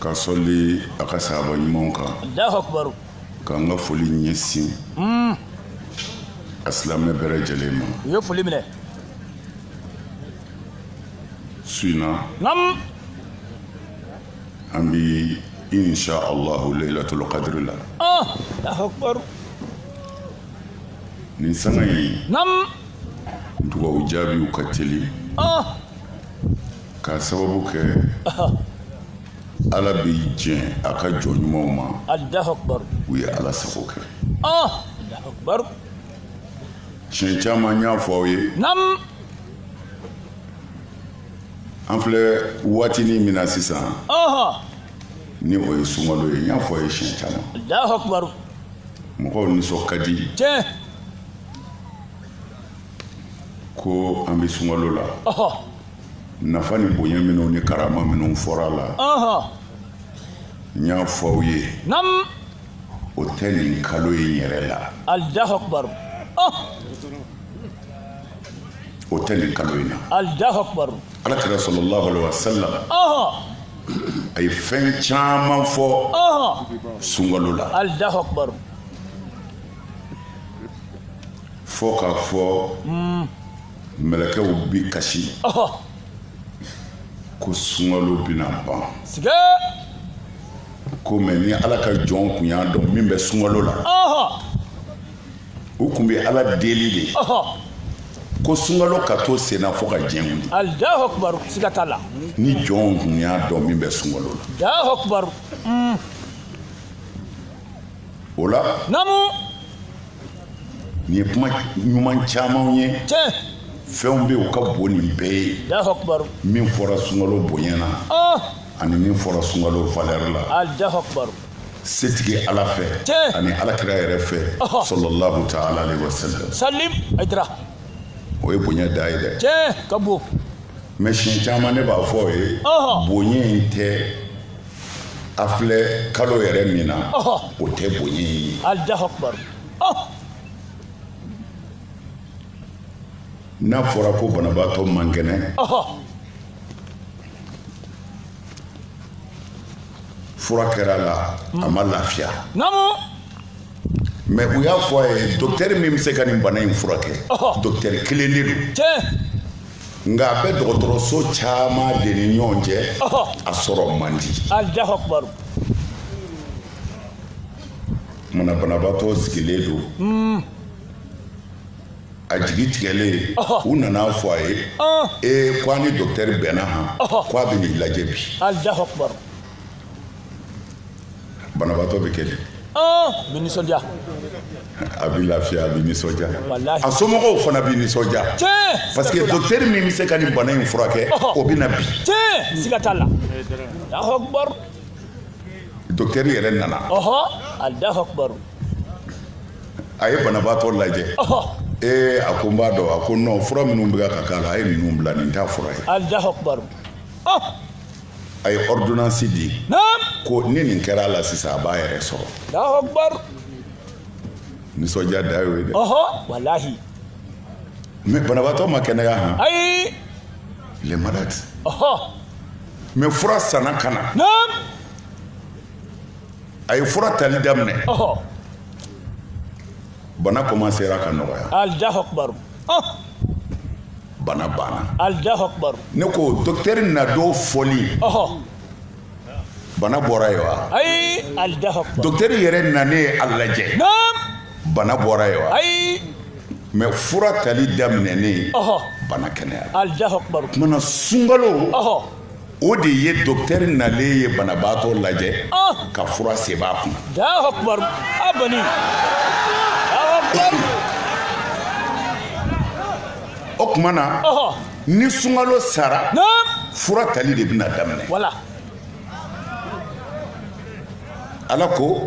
Ka sɔli a ka sahaba ɲumanw kan. Alahu akibaru. Ka n ka foli ɲɛsin. Uun. A silamɛ bɛɛ lajɛlen ma. U ye foli minɛ. Su in na. Naamu. An bɛ insa alahu layilatulu kadiri la. Ɔn! Alahu akibaru. Nin sanga in. Naamu. Dugawu jaabiw ka teli. Ɔn! K'a sababu kɛ Ala bɛ jɛn a ka jɔn ɲumanw ma, Alahu akibaru, u ye Ala sago kɛ, ɔɔ, Alahu akibaru, siɲɛ caman n y'a fɔ aw ye, naamu, an filɛ waatinin min na sisan, ɔhɔ, ni o ye sunkalo ye n y'a fɔ aw ye siɲɛ caman, Alahu akibaru, mɔgɔw nisɔn ka di, tiɲɛ, ko an bɛ sunkalo la, ɔhɔ. nafa ni bonya minnu ni karama minnu fɔra a la n y'a fɔ aw ye o tɛ nin kalo in yɛrɛ la alahu akubaru o tɛ nin kalo in na alahu akubaru ala kira sɔlɔlahu alaihi wa sallam a ye fɛn caman fɔ sunkalo la alahu akubaru fɔ k'a fɔ mm. mɛlɛkɛw bi kasi ko sunkalo bɛna ban ko mɛ ni ala ka jɔn kun y'a dɔn min bɛ sunkalo la u kun bɛ ala deli de ko sunkalo ka to senna fo ka diɲɛ wuli ni jɔnw kun y'a dɔn min bɛ sunkalo la o la namu nin ye kuma ɲuman camanw ye tiɲɛ fɛnw bɛ u ka bon nin bɛɛ ye alahu akubaru min fɔra sunkalo bonya na ɔɔ ani min fɔra sunkalo valɛri la alahu akubaru setigi ala fɛ Tiɲɛ. ani alakira yɛrɛ fɛ Ɔhɔ. sɔlɔlahu taala alayhi wa sallam salim a dira o ye bonya dan ye dɛ tiɲɛ ka bon mɛ siɲɛ caman ne b'a fɔ aw ye Ɔhɔ. bonya in tɛ an filɛ kalo yɛrɛ min na o tɛ bonya in ye n'a fɔra ko banabaatɔ man kɛnɛ fura kɛra a la a ma lafiya mɛ u y'a fɔ a ye dɔkitɛri min bɛ se ka nin bana in furakɛ dɔkitɛri kelen de don nka a bɛ dɔgɔtɔrɔso caman de ni ɲɔgɔn cɛ a sɔrɔ man di kuma na banabaatɔ sigilen don hmm. a jigi tigɛlen u nana fɔ a ye ee ko an ni docteur bɛnna han ko a bɛ n'i lajɛ bi banabaatɔ bɛ kɛ di a bɛ nisɔndiya a bɛ lafiya a bɛ nisɔndiya a somɔgɔw fana bɛ nisɔndiya parce que docteur min bɛ se ka nin bana in furakɛ o bɛ na bi siga t'a la docteur yɛrɛ nana a ye banabaatɔ lajɛ ee a ko n b'a dɔn a ko non fura minnu bɛ ka k'a la a ye ninnu bila nin t'a fura ye a ye ordonnance di ko ni nin kɛra a la sisan a b'a yɛrɛ sɔrɔ nisɔndiya dan y'o ye dɛ walahi mais banabaatɔ ma kɛnɛya han ayi il est malade mais fura sanna ka na a ye fura tali daminɛ bana commencera ka nɔgɔya bana banna Allahu Akbar ne ko docteur na don fɔli bana bɔra ye wa ayi Allahu Akbar docteur yɛrɛ nanen ye a lajɛ bana bɔra ye wa ayi mais fura tali daminɛnen bana kɛnɛyara Allahu Akbar kuma na sunkalo o de ye docteur nalen ye banabaatɔ lajɛ ka fura sɛbɛn a kun o kuma na ni sunkalo sara fura tali de bɛna daminɛ wa ala ko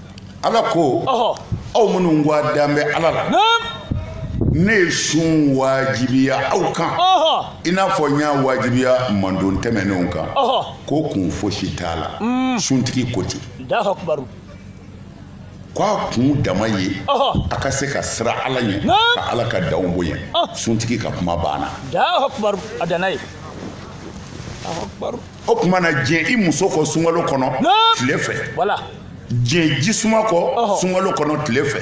ala ko aw minnu ko a dan bɛ ala la ne ye sun wajibiya aw kan i n'a fɔ n y'a wajibiya mandon tɛmɛnenw kan ko kun fosi t'a la mm. suntigi ko ten ko a kun dama ye a ka se ka siran ala ɲɛ ka ala ka danw bonya suntigi ka kuma banna o tuma na diɲɛ i muso kɔ sunkalo kɔnɔ tile fɛ diɲɛ jisuma kɔ sunkalo kɔnɔ tile fɛ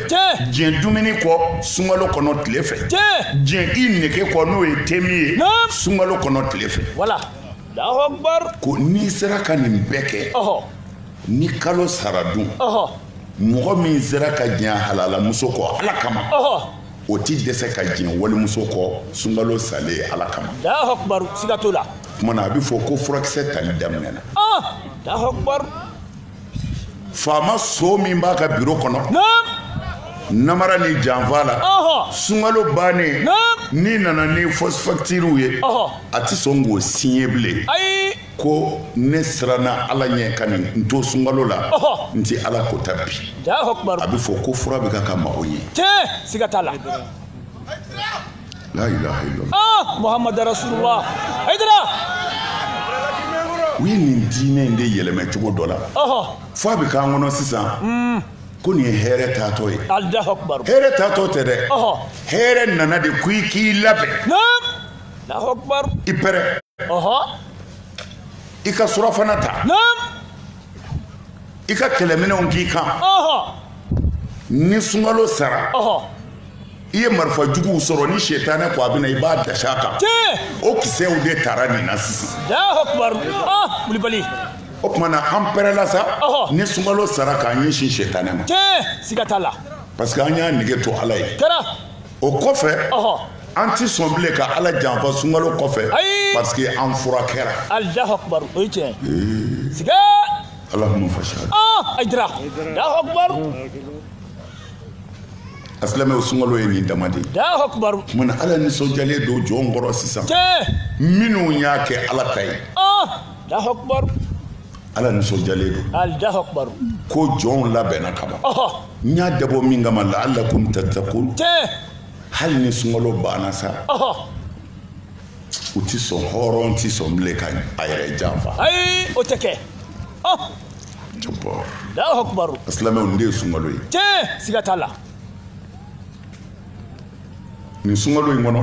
diɲɛ dumuni kɔ sunkalo kɔnɔ tile fɛ diɲɛ i nege kɔ n'o ye te min ye sunkalo kɔnɔ tile fɛ ko n'i sera ka nin bɛɛ kɛ ni kalo sara dun mɔgɔ min sera ka diɲɛ halalamuso kɔ ala kama o tɛ dɛsɛ ka diɲɛ walimuso kɔ sunkalo salen ala kama alahakubaru siga t'o la tuma na a bɛ fɔ ko furakisɛ tali daminɛna alahakubaru faama so min b'a ka biro kɔnɔ namara ni janfa la sunkalo bannen n'i nana ni fɔsi fakitiriw ye a tɛ sɔn k'o siɲɛ bilen ko ne siranna ala ɲɛ ka nin n to sunkalo la n tɛ ala kota bi a bɛ fɔ ko fura bɛ k'a ka mago ɲɛ siga t'a la la ilaha illallah ah muhammad rasulullah haydara u ye nin diinɛ in de yɛlɛmɛ cogo dɔ la fo a bɛ k'an kɔnɔ sisan hmm. ko nin ye hɛrɛ taatɔ ye hɛrɛ taatɔ tɛ dɛ hɛrɛ nana de ko i k'i labɛn i pɛrɛ i ka sirafana ta i ka kɛlɛminɛnw k'i kan ni sunkalo sara i ye marifa juguw sɔrɔ ni setanɛ ko a bɛna i b'a dasi a kan o kisɛw de tara nin na sisan o tuma na an pɛrɛla sa ni sunkalo sara k'an ɲɛsin setanɛ ma parce que an y'a nege to ala ye o kɔfɛ an tɛ sɔn bilen ka ala janfa sunkalo kɔfɛ parce que an fura kɛra alahakubaru o ye tiɲɛ siga allahumma fashhad haydara alahakubaru a silamɛw sunkalo ye nin dama de ye alahakubaru mun na ala nisɔndiyalen don jɔn kɔrɔ sisan minnu y'a kɛ ala ta ye alahakubaru ala nisɔndiyalen don ko jɔnw labɛnna kaban n y'a dabɔ min kama la'allakum tattaqun hali ni sunkalo banna sa u tɛ sɔn hɔrɔn tɛ sɔn bilen ka a yɛrɛ janfa ayi o tɛ kɛ silamɛw nin de ye sunkalo ye siga t'a la nin sunkalo in kɔnɔ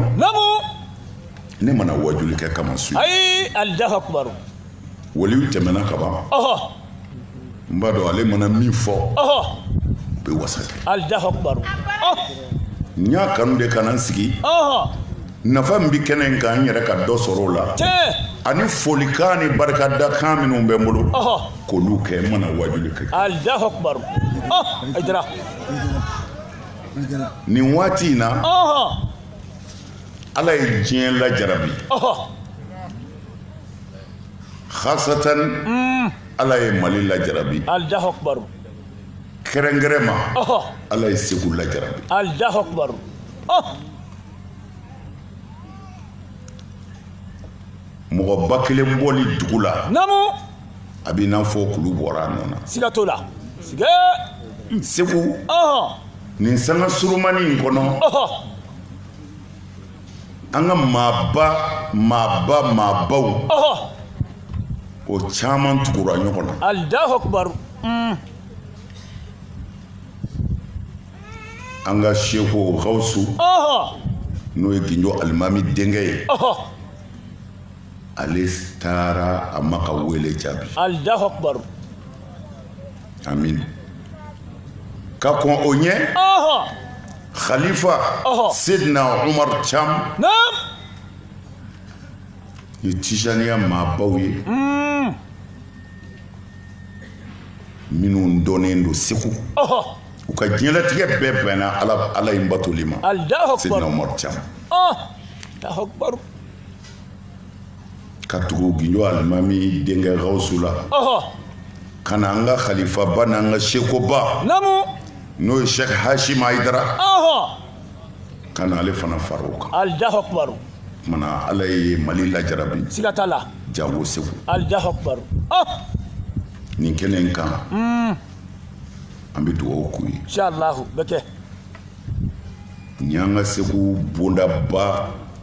ne ma na wajuli kɛ kama su ayi alahakubaru waliw tɛmɛna kaban n b'a dɔn ale mana min fɔ o bɛ wasa kɛ n y'a kanu de ka na n sigi nafa min bɛ kɛnɛ in kan n yɛrɛ ka dɔ sɔrɔ o la ani folikan ni barikadakan minnu bɛ n bolo k'olu kɛ n ma na wajuli kɛ nin waati in na ala ye diɲɛ lajarabi hasatan ala ye mali lajarabi kɛrɛnkɛrɛn ma ala ye segu lajarabi mɔgɔba kelen bɔli dugu la a b'i n'a fɔ kulu bɔra a nɔ na siga t'o la siga segu nin sanga surumani in kɔnɔ an ka maaba maaba maabaw o caman tugura ɲɔgɔn na alahu akubaru mm. an ka seku gawusu n'o ye ginjo alimami denkɛ ye ale taara a ma ka wele jaabi alahu akbar amin ka kɔn o ɲɛ khalifa sidina umar cam ni tijaniya maabaw ye hmm. minnu dɔnnen don segu u ka diɲɛlatigɛ bɛɛ bɛnna ala in batoli ma sidina umar cam ka tugu ginjo alimami denkɛ gawusu la ka na an ka kalifaba n'an ka sekuba n'o ye sɛki hasimi ayidara ka na ale fana fara o kan maana ala ye mali lajarabi siga t'a la jango segu alahu akubaru nin kɛnɛ in kan hmm. an bɛ dugawu k'u ye inshallah o bɛ kɛ nin y'an ka segu bondaba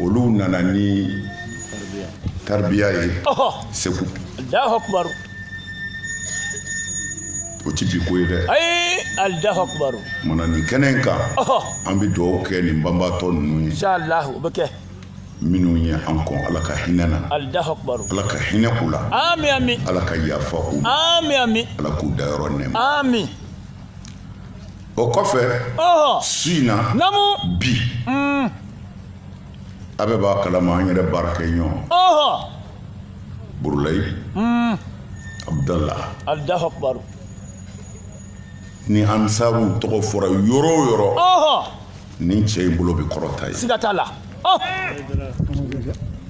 olu nana ni taribiya ye segu o ti bi ko ye dɛ ayi alahu akubaru maana nin kɛnɛ in kan an bɛ dugawu kɛ nin banbaatɔ ninnu ye inshallah o bɛ kɛ minnu ye an kɔn ala ka hinɛ na alahu akubaru ala ka hinɛ u la amin amin ala ka yafa u ma amin amin ala k'u dayɔrɔ nɛɛma amin o kɔfɛ su in na bi mm. a bɛɛ b'a kalama an yɛrɛ baarakɛɲɔgɔn burulayi mm. abudala ni ansaruw tɔgɔ fɔra yɔrɔ o yɔrɔ nin cɛ in bolo bɛ kɔrɔta yen siga t'a la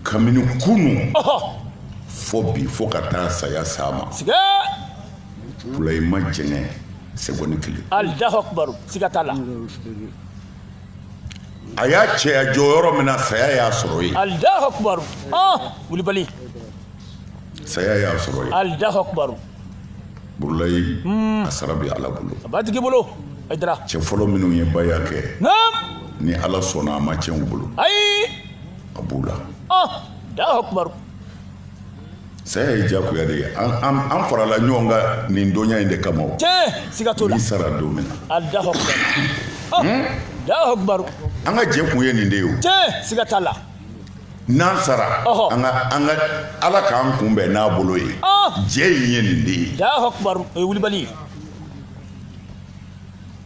kabini kunu fo bi fo ka taa saya s'a ma burulayi ma jɛngɛ segɔni kelen alahu akubaru siga t'a la a y'a cɛya jɔ yɔrɔ min na saya y'a sɔrɔ yen alahu akubaru wulibali saya y'a sɔrɔ yen alahu akubaru burulayi hmm. a sara bɛ ala bolo a b'a tigi bolo ayidara cɛ fɔlɔ minnu ye baya kɛ ni ala sɔnna a ma tiɲɛ u bolo ayi a b'u la alahu akubaru saya ye jagoya de ye an farala ɲɔgɔn kan nin dɔnya in de kama o siga t'o la sara don min na alahu akibar hmm? an ka jɛ kun ye nin de ye o siga t'a la n'an sara an ka an ka ala k'an kunbɛn n'a bolo ye jɛ in ye nin de ye alahu akibar o ye wulibali ye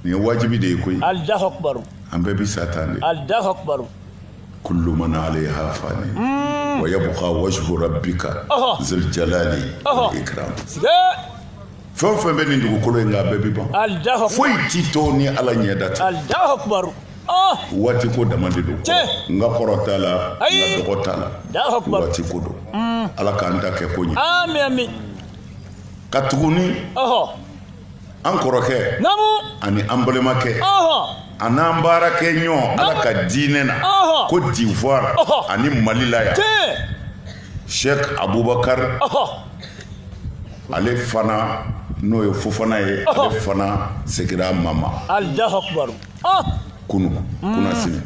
nin ye wajibi de ye koyi alahu akibar an bɛɛ bi sa tan de alahu akibar kulu man alayiha fan mm. wa yabuka wajihu rabika zul jalali wal ikiram fɛn o fɛn bɛ nin dugukolo in kan a bɛɛ bi ban foyi ti to ni ala ɲɛda tɛ oh! waati ko dama de don n ka kɔrɔ t'a la n ka dɔgɔ t'a la waati ko don mm. ala k'an ta kɛ ko ɲɛ katuguni an kɔrɔkɛ ani an balimakɛ an'an baarakɛɲɔgɔn ala ka diinɛ na kodivuwari ani mali la yan sɛki abubakari ale fana n'o ye fofana ye ale fana segira ma ma kunu kunasini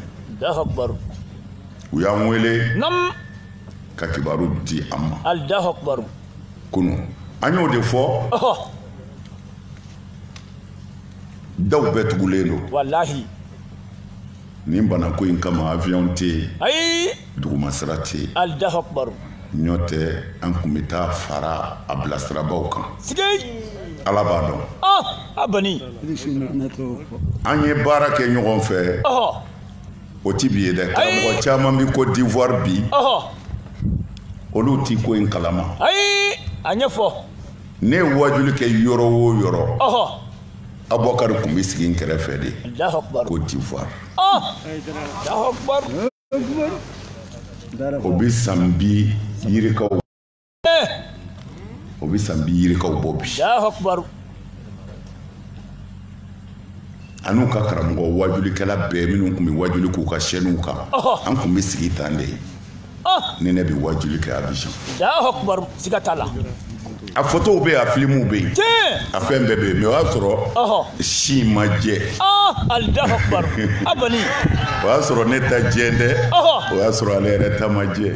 u y'an wele ka kibaru di an ma kunu an y'o de fɔ daw bɛɛ tugulen don walahi nin banako in kama avion tɛ yen ayi dugumasira tɛ yen alahu akubaru ɲɔ tɛ an kun bɛ taa fara a bilasirabaaw kan sigi ala b'a dɔn a bani an ye baara kɛ ɲɔgɔn fɛ o ti bi ye dɛ karamɔgɔ caman bi kodivuwari bi olu ti ko in kalama ayi a ɲɛfɔ ne ye wajuli kɛ yɔrɔ o yɔrɔ abubakari kun bɛ sigi n kɛrɛfɛ de kodivuwari o bɛ san bi yirikaw o bɛ san bi yirikaw bɔ bi an'u ka karamɔgɔ wajulikɛla bɛɛ minnu kun bɛ wajuli k'u ka sɛniw kan an kun bɛ sigi tan de ni ne bɛ wajuli kɛ abijan a fɔtow bɛ yen a filimuw bɛ yen a fɛn bɛɛ bɛ yen mɛ o y'a sɔrɔ si ma jɛ o y'a sɔrɔ ne ta jɛ dɛ o y'a sɔrɔ ale yɛrɛ ta ma jɛ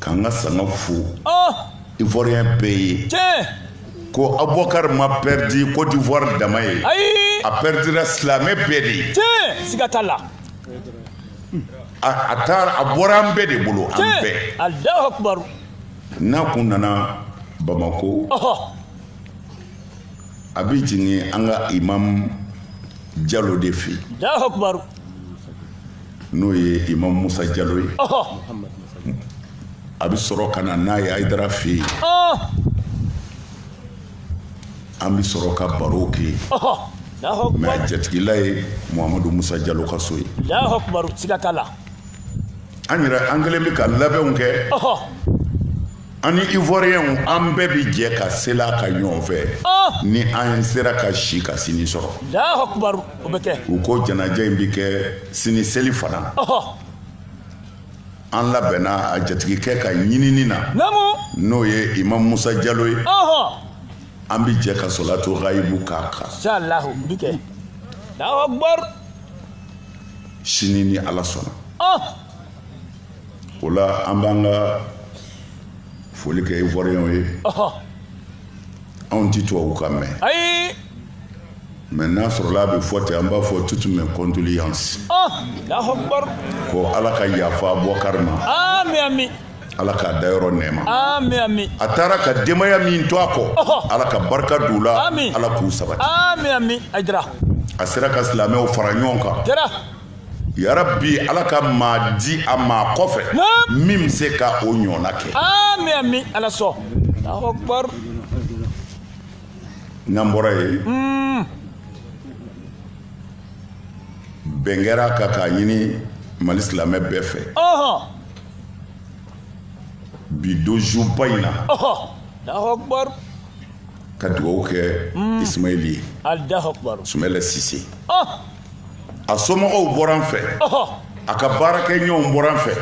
k'an ka sanga fo ivoirien bɛɛ ye ko abubakar ma pɛridi cote d'ivoire dama ye a pɛridira silamɛ bɛɛ de ye siga t'a la a taara a bɔra an bɛɛ de bolo an bɛɛ n'a kun nana bamako a bɛ jigin an ka imam jalo de fɛ yen n'o ye imamu musa jalo ye a bɛ sɔrɔ ka na n'a ye ayidara fɛ yen an bɛ sɔrɔ ka baro kɛ mɛ a jatigila ye muhamadu musa jalo ka so ye an yɛrɛ an kɛlen bɛ ka labɛnw kɛ An ni ivoiriyɛnw an bɛɛ bɛ jɛ ka seli a kan ɲɔgɔn fɛ ni an sera ka si ka sini sɔrɔ u ko janaja in bɛ kɛ sini seli fana an labɛnna a jatigikɛ ka ɲinini na n'o ye imamu musa jalo ye an bɛ jɛ ka solatu gayibu k'a kan sini ni ala sɔnna o la an b'an ka foli kɛ ivoiriyɛnw ye anw tɛ tubabukan mɛn mɛ n'a sɔrɔla a bɛ fɔ ten an b'a fɔ toutes mes condoléances ko ala ka yafa abubakar ma ala k'a dayɔrɔ nɛɛma a taara ka denbaya min to a kɔ ala ka barika don u la ala k'u sabati a sera ka silamɛw fara ɲɔgɔn kan yarabi ala ka maa di a maa kɔfɛ min bɛ se ka o ɲɔgɔnna kɛ amin amin ala sɔn alahu akibar n'an bɔra yen hmm. bɛn kɛra a kan k'a ɲini mali silamɛ bɛɛ fɛ bi donjuba in na alahu akibar ka dugawu kɛ hmm. ismaili ye alahu akibar sumayila sise a somɔgɔw bɔra n fɛ a ka baarakɛɲɔgɔnw bɔra n fɛ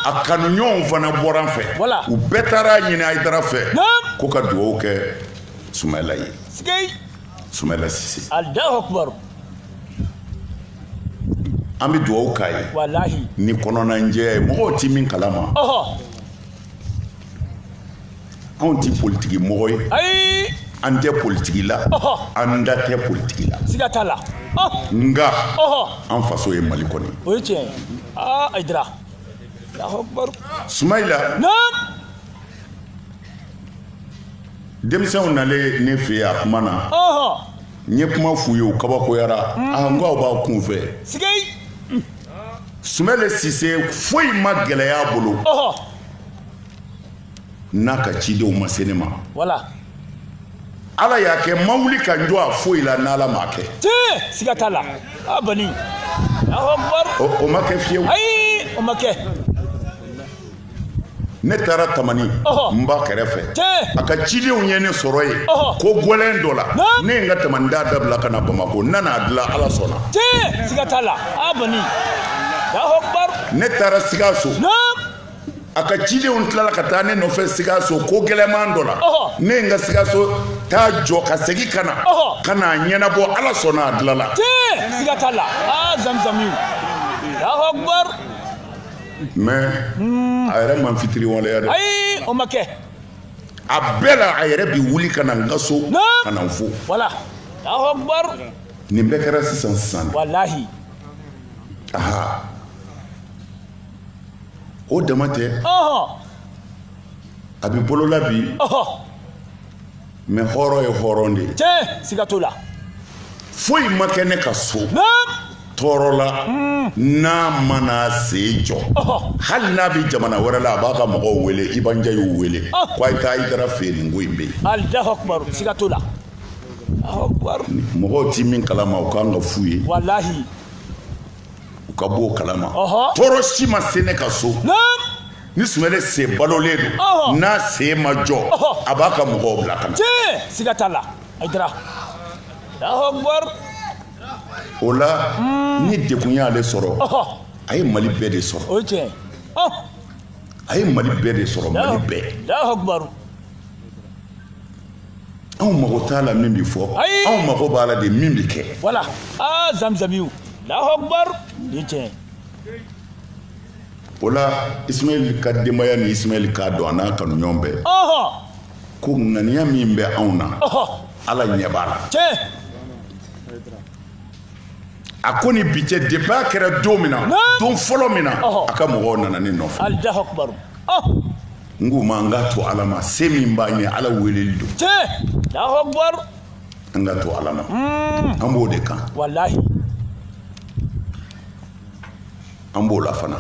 a kanuɲɔgɔnw fana bɔra n fɛ u bɛɛ taara a ɲini ayidara fɛ ko ka dugawu kɛ sumayila ye sumayila sise an bɛ dugawu k'a ye ni kɔnɔnajɛya ye mɔgɔw tɛ min kalama anw tɛ politiki mɔgɔ ye ayi an tɛ politiki la an da tɛ politiki la siga t'a la nka an faso ye mali kɔni o ye tiɲɛ ye aa ayidara sumayila denmisɛnw nalen ne fɛ yen a kuma na n ye kuma f'u ye u kabakoyara a n ko aw b'aw kun fɛ sumayila sise foyi ma gɛlɛya a bolo n'a ka cidenw ma se ne ma voilà ala y'a kɛ n ma wuli ka n jɔ a foyi la n'ala m'a kɛ tiɲɛ siga t'a la a bani o ma kɛ fiyewu ayi o ma kɛ ne taara tamani n ba kɛrɛfɛ a ka cidenw ye ne sɔrɔ yen ko gɛlɛn dɔ la ne ye n ka tamani taa dabila ka na bamako n nana a dilan ala sɔnna ne taara sikaso a ka cidenw tilala ka taa ne nɔfɛ sikaso ko gɛlɛman dɔ la ne ye n ka sikaso taa jɔ ka segin ka na ka na a ɲɛnabɔ ala sɔnna a dilanna mais hmm. a yɛrɛ ma fitiriwaleya dɛ ayi o ma kɛ a bɛɛ la a yɛrɛ bi wuli ka na n ka so ka na n fo voilà allahu akbar nin bɛɛ kɛra sisan sisan walahi aha o dama tɛ a bi bolo la bi mais hɔrɔn ye hɔrɔn de ye tiɲɛ siga t'o la foyi ma kɛ ne ka so tɔɔrɔ la hmm. n'a ma n'a sen jɔ hali n'a bɛ jamana wɛrɛ la a b'a ka mɔgɔw wele i banja y'u wele ko a ye taa hayidara fɛ nin ko in bɛ yen allahu akbar siga t'o la mɔgɔw ti min kalama o kan ka f'u ye walahi u ka b'o kalama tɔɔrɔ si ma se ne ka so ni sumayila sen balolen don n'a sen ma jɔ a b'a ka mɔgɔw bila ka na tiɲɛ siga t'a la hayidara allahu akbar o la ni degun y'ale sɔrɔ a ye mali bɛɛ de sɔrɔ o ye tiɲɛ ye a ye mali bɛɛ de sɔrɔ mali bɛɛ allahu akbar anw mago t'a la min bi fɔ anw mago b'a la de min bi kɛ voilà aa zamzamiw allahu akbar ni tiɲɛ o la ismaɛl ka denbaya ni ismaɛl k'a dɔn a n'a kanuɲɔgɔn bɛɛ ko ŋaniya min bɛ anw na ala ɲɛ b'a la a ko ni bi cɛ depuis a kɛra don min na don fɔlɔ min na a ka mɔgɔw nana ne nɔfɛ n k'u ma an k'a to ala ma se min b'an ye ala weleli don an k'a to ala ma an b'o de kan an b'o la fana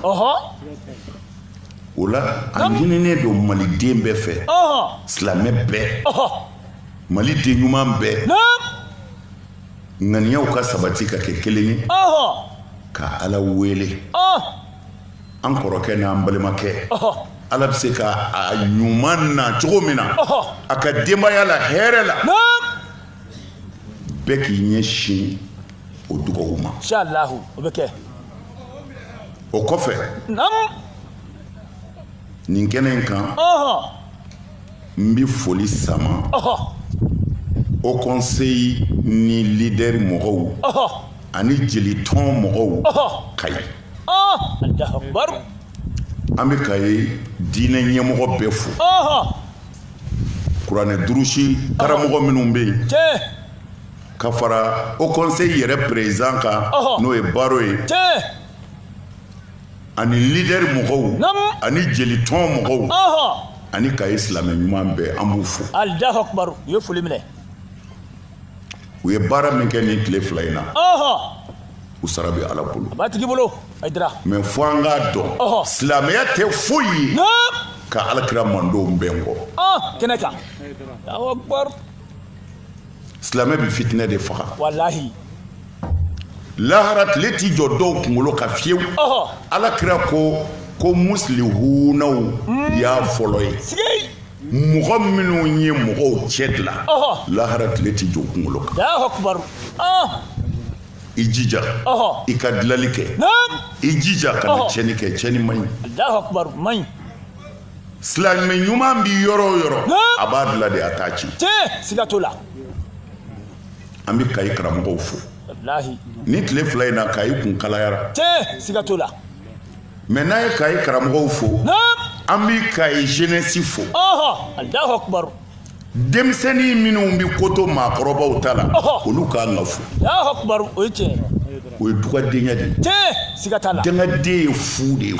o la a ɲininen don maliden bɛɛ fɛ silamɛ bɛɛ maliden ɲuman bɛɛ ŋaniyaw ka sabati ka kɛ kelen ye ka ala wele an kɔrɔkɛ n'an balimakɛ ala bɛ se ka a ɲuman na cogo min na a ka denbaya la hɛrɛ la bɛɛ k'i ɲɛsin o dugawu ma inshallah o bɛ kɛ o kɔfɛ nin kɛnɛ in kan n bɛ foli sama o kɔnseyi ni lidɛri mɔgɔw ani jelitɔn mɔgɔw kayi an bɛ kayi diinɛ ɲɛmɔgɔ bɛɛ fo kuranɛ durusi karamɔgɔ minnu bɛ yen ka fara o kɔnseyi yɛrɛ perezidan kan n'o ye baro ye ani lidɛri mɔgɔw ani jelitɔn mɔgɔw ani kayi silamɛ ɲuman bɛɛ an b'u fo u ye baara min kɛ nin tile fila in na u sara bɛ ala bolo a b'a tigi bolo ayidara mɛ fo an k'a dɔn silamɛya tɛ foyi ye ka ala kira mandenw bɛn kɔ kɛnɛ kan silamɛ bɛ fitinɛ de faga walahi lahara tile t'i jɔ dɔw kunkolo kan fewu ala kira ko musilihunaw hmm. y'a fɔlɔ ye mɔgɔ minnu ye mɔgɔw cɛ dilan lahara tile t'i jɔ kunkolo kan i jija i ka dilali kɛ i jija kana tiɲɛni kɛ tiɲɛni man ɲi silamɛ ɲuman bi yɔrɔ o yɔrɔ a b'a dila de a t'a ci siga t'o la an bɛ kayi karamɔgɔw fo nin tile fila in na kayi kun kalayara siga t'o la mɛ n'an ye kayi karamɔgɔw fo an bɛ kayi jeunesse fo denmisɛnnin minnu bɛ ko to maakɔrɔbaw ta la olu kan ka fo o ye tiɲɛ o ye dugawudenya de ye dangaden ye fu de ye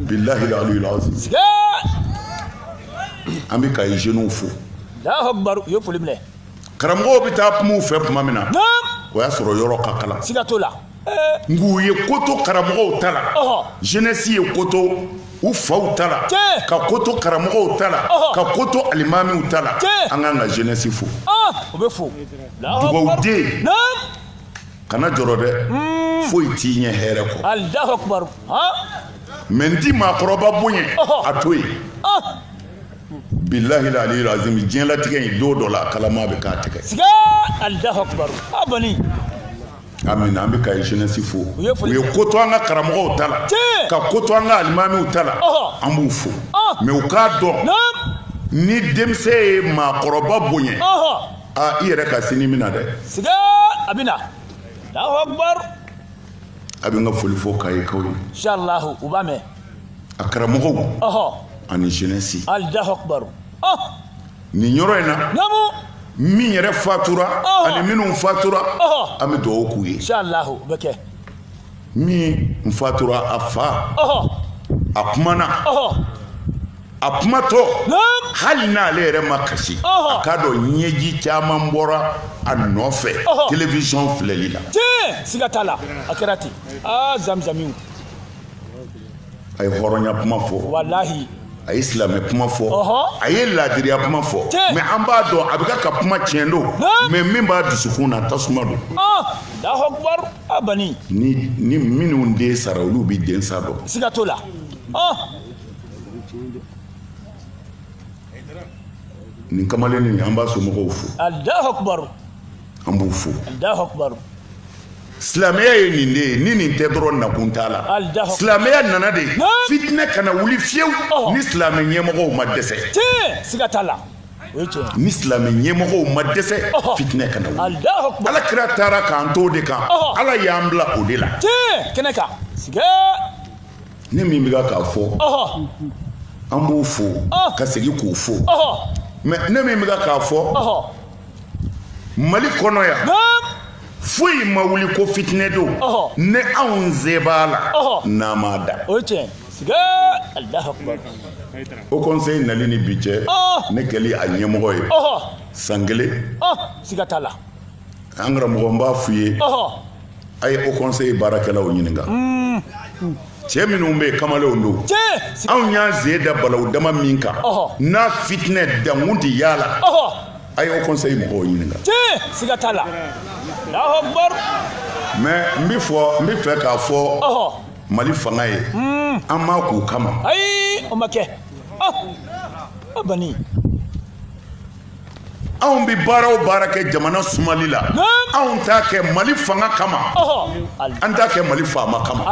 bilayi an bɛ kayi jeunes fo alahu akubaru u ye foli minɛ karamɔgɔw bɛ taa kuma u fɛ tuma min na o y'a sɔrɔ yɔrɔ ka kalan siga t'o la nk'u ye ko to karamɔgɔw ta la jeunesse ye ko to u faw ta la ka ko to karamɔgɔw ta la ka ko to alimamiw ta la an k'an ka jeunesse fo o bɛ fo dugawuden kana jɔrɔ dɛ foyi t'i ɲɛ hɛrɛ kɔ alahu akubaru mɛ n'i ti maakɔrɔba bonya a to yen bilahil aliyul azim diɲɛlatigɛ in don dɔ la a kalama bɛ k'a tigɛ siga alahu akubaru a bɔni amin an bɛ kayi jeunesse fo u ye ko to an ka karamɔgɔw ta la ka ko to an ka alimamiw ta la an b'u fo mɛ u k'a dɔn ni denmisɛn ye maakɔrɔba bonya aa i yɛrɛ ka sini bi na dɛ siga a bɛ na alahu akubaru a bɛ n ka foli fɔ kayikaw ye inshallah u b'a mɛn a karamɔgɔw ani jeunesse Allahu akbar oh! nin yɔrɔ in na namu min yɛrɛ fatura ani minnu fatura an bɛ dugawu k'u ye inshallah o bɛ kɛ min fatura a fa a kumana a kumatɔ hali n'ale yɛrɛ ma kasi a k'a dɔn ɲɛji caman bɔra a nɔfɛ television filɛli la siga t'a la a kɛra ten aa zamzamiw a ye hɔrɔnya kuma fɔ walahi a ye silamɛ kuma fɔ a ye laadiriya kuma fɔ mais an b'a dɔn a bɛ ka kuma tiɲɛ don mais min b'a dusukun na tasuma don ni minnu den sara olu bɛ den sa dɔn siga t'o la nin kamalen nin an b'a somɔgɔw fo an b'u fo silamɛya ye nin de ye ni nin tɛ dɔrɔn nakun t'a la silamɛya nana de fitinɛ kana wuli fiyewu ni silamɛ ɲɛmɔgɔ ma dɛsɛ ni silamɛ ɲɛmɔgɔ ma dɛsɛ fitinɛ kana ala kira taara k'an to de kan ala y'an bila o de la ne min bɛ k'a fɔ an b'u fo ka segin k'u fo mais ne min bɛ k'a fɔ mali kɔnɔ yan foyi ma wuli ko fitinɛ don ni anw se b'a la n'an m'a da Haut conseil nali ni bi cɛ ne kɛli a ɲɛmɔgɔ ye san kelen siga t'a la an karamɔgɔ n b'a f'u ye A ye Haut conseil baarakɛlaw ɲininka cɛ minnu bɛ yen kamalenw don anw y'an sen da balawu dama min kan n'a fitinɛ dankun tɛ yalala a ye Haut conseil mɔgɔw ɲininka la mais n bɛ fɔ n bɛ fɛ k'a fɔ mali fanga ye an ma k'u kama o ma kɛ anw bɛ baara o baara kɛ jamana sumali la anw t'a kɛ mali fanga kama an t'a kɛ mali faama kama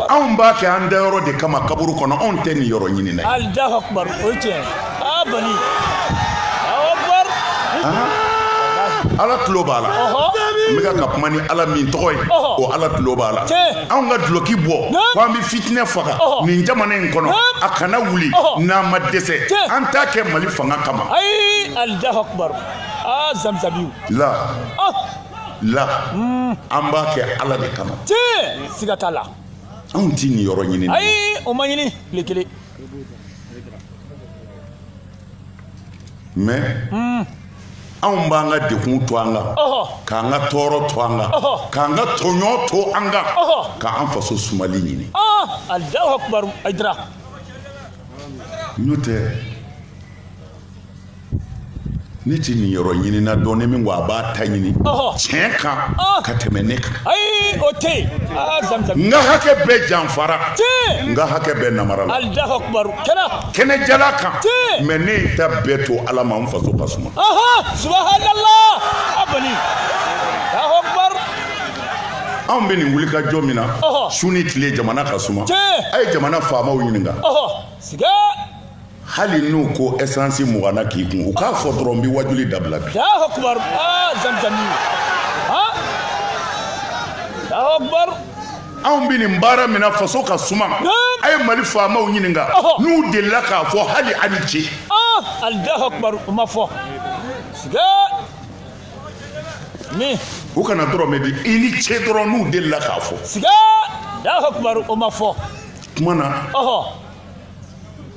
anw b'a kɛ an dayɔrɔ de kama kaburu kɔnɔ anw tɛ niyɔrɔ ɲini na ala tulo b'a la n bɛka ka kuma ni ala min tɔgɔ ye o ala tulo b'a la anw ka duloki bɔ ko an bɛ fitinɛ faga nin jamana in kɔnɔ a kana wuli n'an ma dɛsɛ an t'a kɛ mali fanga kama ayi Allahu akbar aa zamzamiw la la hmm. an b'a kɛ ala de kama tiɲɛ siga t'a la anw tɛ niyɔrɔ ɲini ayi o ma ɲini tile kelen mɛ anw b'an ka dekun to an kan k'an ka tɔɔrɔ to an kan k'an ka tɔɲɔ to an kan k'an faso sumali ɲini n'o tɛ ne tɛ nin yɔrɔ ɲinina dɔn ne min ko a b'a ta ɲini tiɲɛ kan ka tɛmɛ ne kan o tɛ n ka hakɛ bɛɛ janfara n ka hakɛ bɛɛ namarala kɛnɛ jala kan mɛ ne ye ta bɛɛ to ala ma n faso ka suma anw bɛ nin wuli ka jɔ min na su ni tile jamana ka suma a ye jamana faamaw ɲininka hali n'u ko esansi mugan na k'i kun u k'a fɔ dɔrɔn n bɛ waajuli dabila bi anw bɛ nin baara min na faso ka suma a ye mali faamaw ɲininka n'u delila k'a fɔ hali a ni ce o ma fɔ u kana dɔrɔmɛ di i ni ce dɔrɔn n'u delila k'a fɔ o ma fɔ kuma na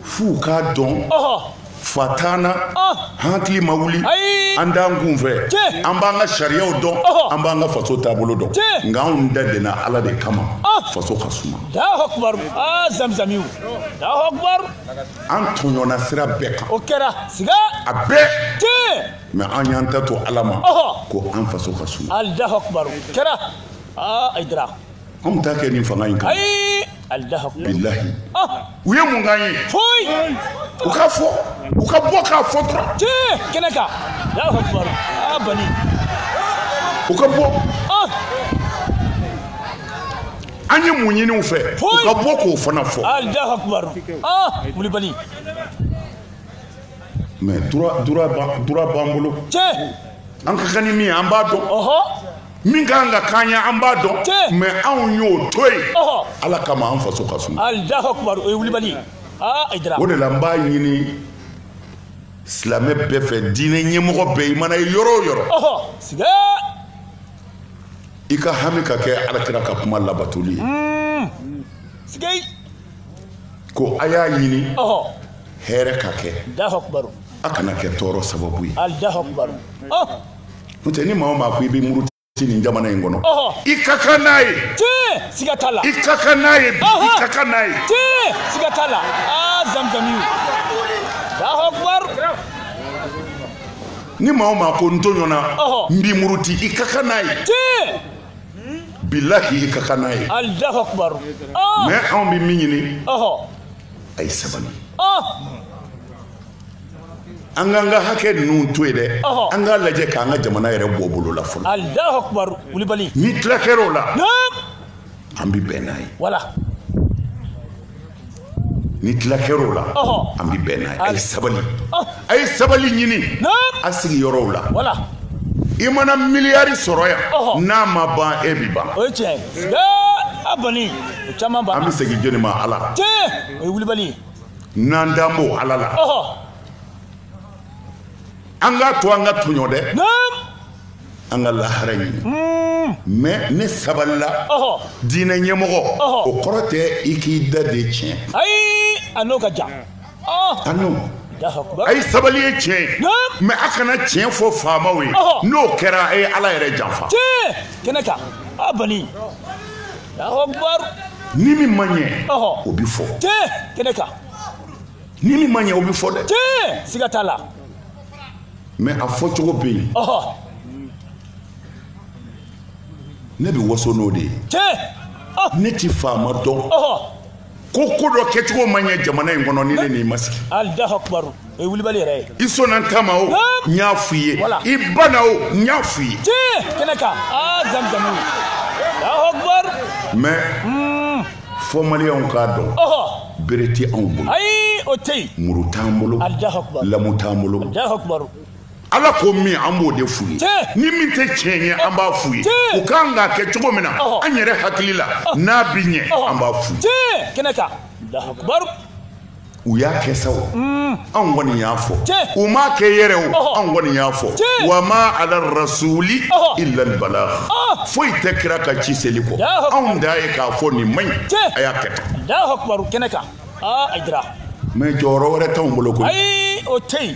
f'u k'a dɔn fa t'an na an hakili ma wuli an t'an kun fɛ an b'an ka sariyaw dɔn an b'an ka faso taabolo dɔn nka anw dadenna ala de kama faso ka suma an tɔɲɔna sira bɛɛ kan o kɛra siga a bɛɛ mɛ an y'an ta to ala ma ko an faso ka suma kɛra Ayidara Anw t'a kɛ nin fanga in kan bilahi u ye mun k'an ye u k'a fɔ u ka bɔ k'a fɔ dɔrɔn kɛnɛ kan u ka bɔ an ye mun ɲini u fɛ u ka bɔ k'o fana fɔ wulibali mɛ droit b'an bolo an ka kan ni min ye an b'a dɔn min ka kan ka k'an ye an b'a dɔn Tiɲɛ. mɛ anw y'o to yen Ɔhɔ. ala kama an faso ka suma Allahu akbar o ye wulibali ye. Ayidara. o de la n b'a ɲini silamɛ bɛɛ fɛ diinɛ ɲɛmɔgɔ bɛɛ i mana ye yɔrɔ o yɔrɔ Ɔhɔ. Siga. i ka hami ka kɛ alakira ka kuma labatoli ye Siga. ko a y'a ɲini Ɔhɔ. hɛrɛ ka kɛ Allahu akbar. a kana kɛ tɔɔrɔ sababu ye Allahu akbar. Ɔhɔ. n'o tɛ ni maa o maa ko i bɛ muruti nin jamana in kɔnɔ i ka kan n'a ye siga t'a la i ka kan n'a ye bi i ka kan n'a ye siga t'a la aa zamzami ni maa o maa ko n tɔɲɔna n bɛ muruti i ka kan n'a ye bilahi i ka kan n'a ye mɛ anw bɛ min ɲini a ye sabali an k'an ka hakɛ ninnu to yen dɛ an k'a lajɛ k'an ka jamana yɛrɛ bɔ bolo la fɔlɔ alahu akubaru wulibali ni tila kɛra o la an bɛ bɛn n'a ye wala ni tila kɛra o la an bɛ bɛn n'a ye a ye sabali a ye sabali ɲini a sigiyɔrɔw la voilà i mana miliyari sɔrɔ yan n'a ma ban e bɛ ban o ye tiɲɛ ye a bani o caman ban an bɛ segin jɔni ma ala tiɲɛ o ye wulibali ye n'an dan b'o Ala la, ɔhɔ, an k'a to an ka tɔɲɔ dɛ, naamu, an ka lahara ɲini, un, mais ne sabalila, ɔhɔ, diinɛ ɲɛmɔgɔ, ɔhɔ, o kɔrɔ tɛ i k'i da de tiɲɛ, ayi, a n'o ka jan, ɔhɔ, a n'o a ye sabali ye tiɲɛ ye mais a kana tiɲɛ fɔ faamaw ye n'o kɛra a ye ala yɛrɛ janfa kɛnɛ kan a bani ni min ma ɲɛ o bɛ fɔ kɛnɛ kan ni min ma ɲɛ o bɛ fɔ dɛ siga t'a la mais a fɔcogo bɛ yen ne bɛ waso n'o de ye ne ti faama dɔn ko ko dɔ kɛcogo ma ɲɛ jamana in kɔnɔ ni ne n'i ma sigi alahu akubaru o ye wulibali yɛrɛ ye i sɔnna n ta ma o n y'a f'i ye i banna o n y'a f'i ye tiɲɛ kɛnɛ kan aa zamizamu alahu akubaru mais hmm. fɔ maliyɛnw k'a dɔn bere tɛ anw bolo ayi o tɛ yen muru t'an bolo alahu akubaru lamu t'an bolo alahu akubaru ala ko min an b'o de f'u ye ni min tɛ tiɲɛ ye an b'a f'u ye u kan k'a kɛ cogo min na an yɛrɛ hakili la n'a bi ɲɛ an b'a f'u ye u y'a kɛ sa o mm. anw kɔni y'a fɔ u m'a kɛ yɛrɛ o anw kɔni y'a fɔ wa ma ala rasuli illa al balagh foyi tɛ kira ka ci seli kɔ anw da ye k'a fɔ nin man ɲi a y'a kɛ tan mais jɔyɔrɔ wɛrɛ t'anw bolo koyi o tɛ yen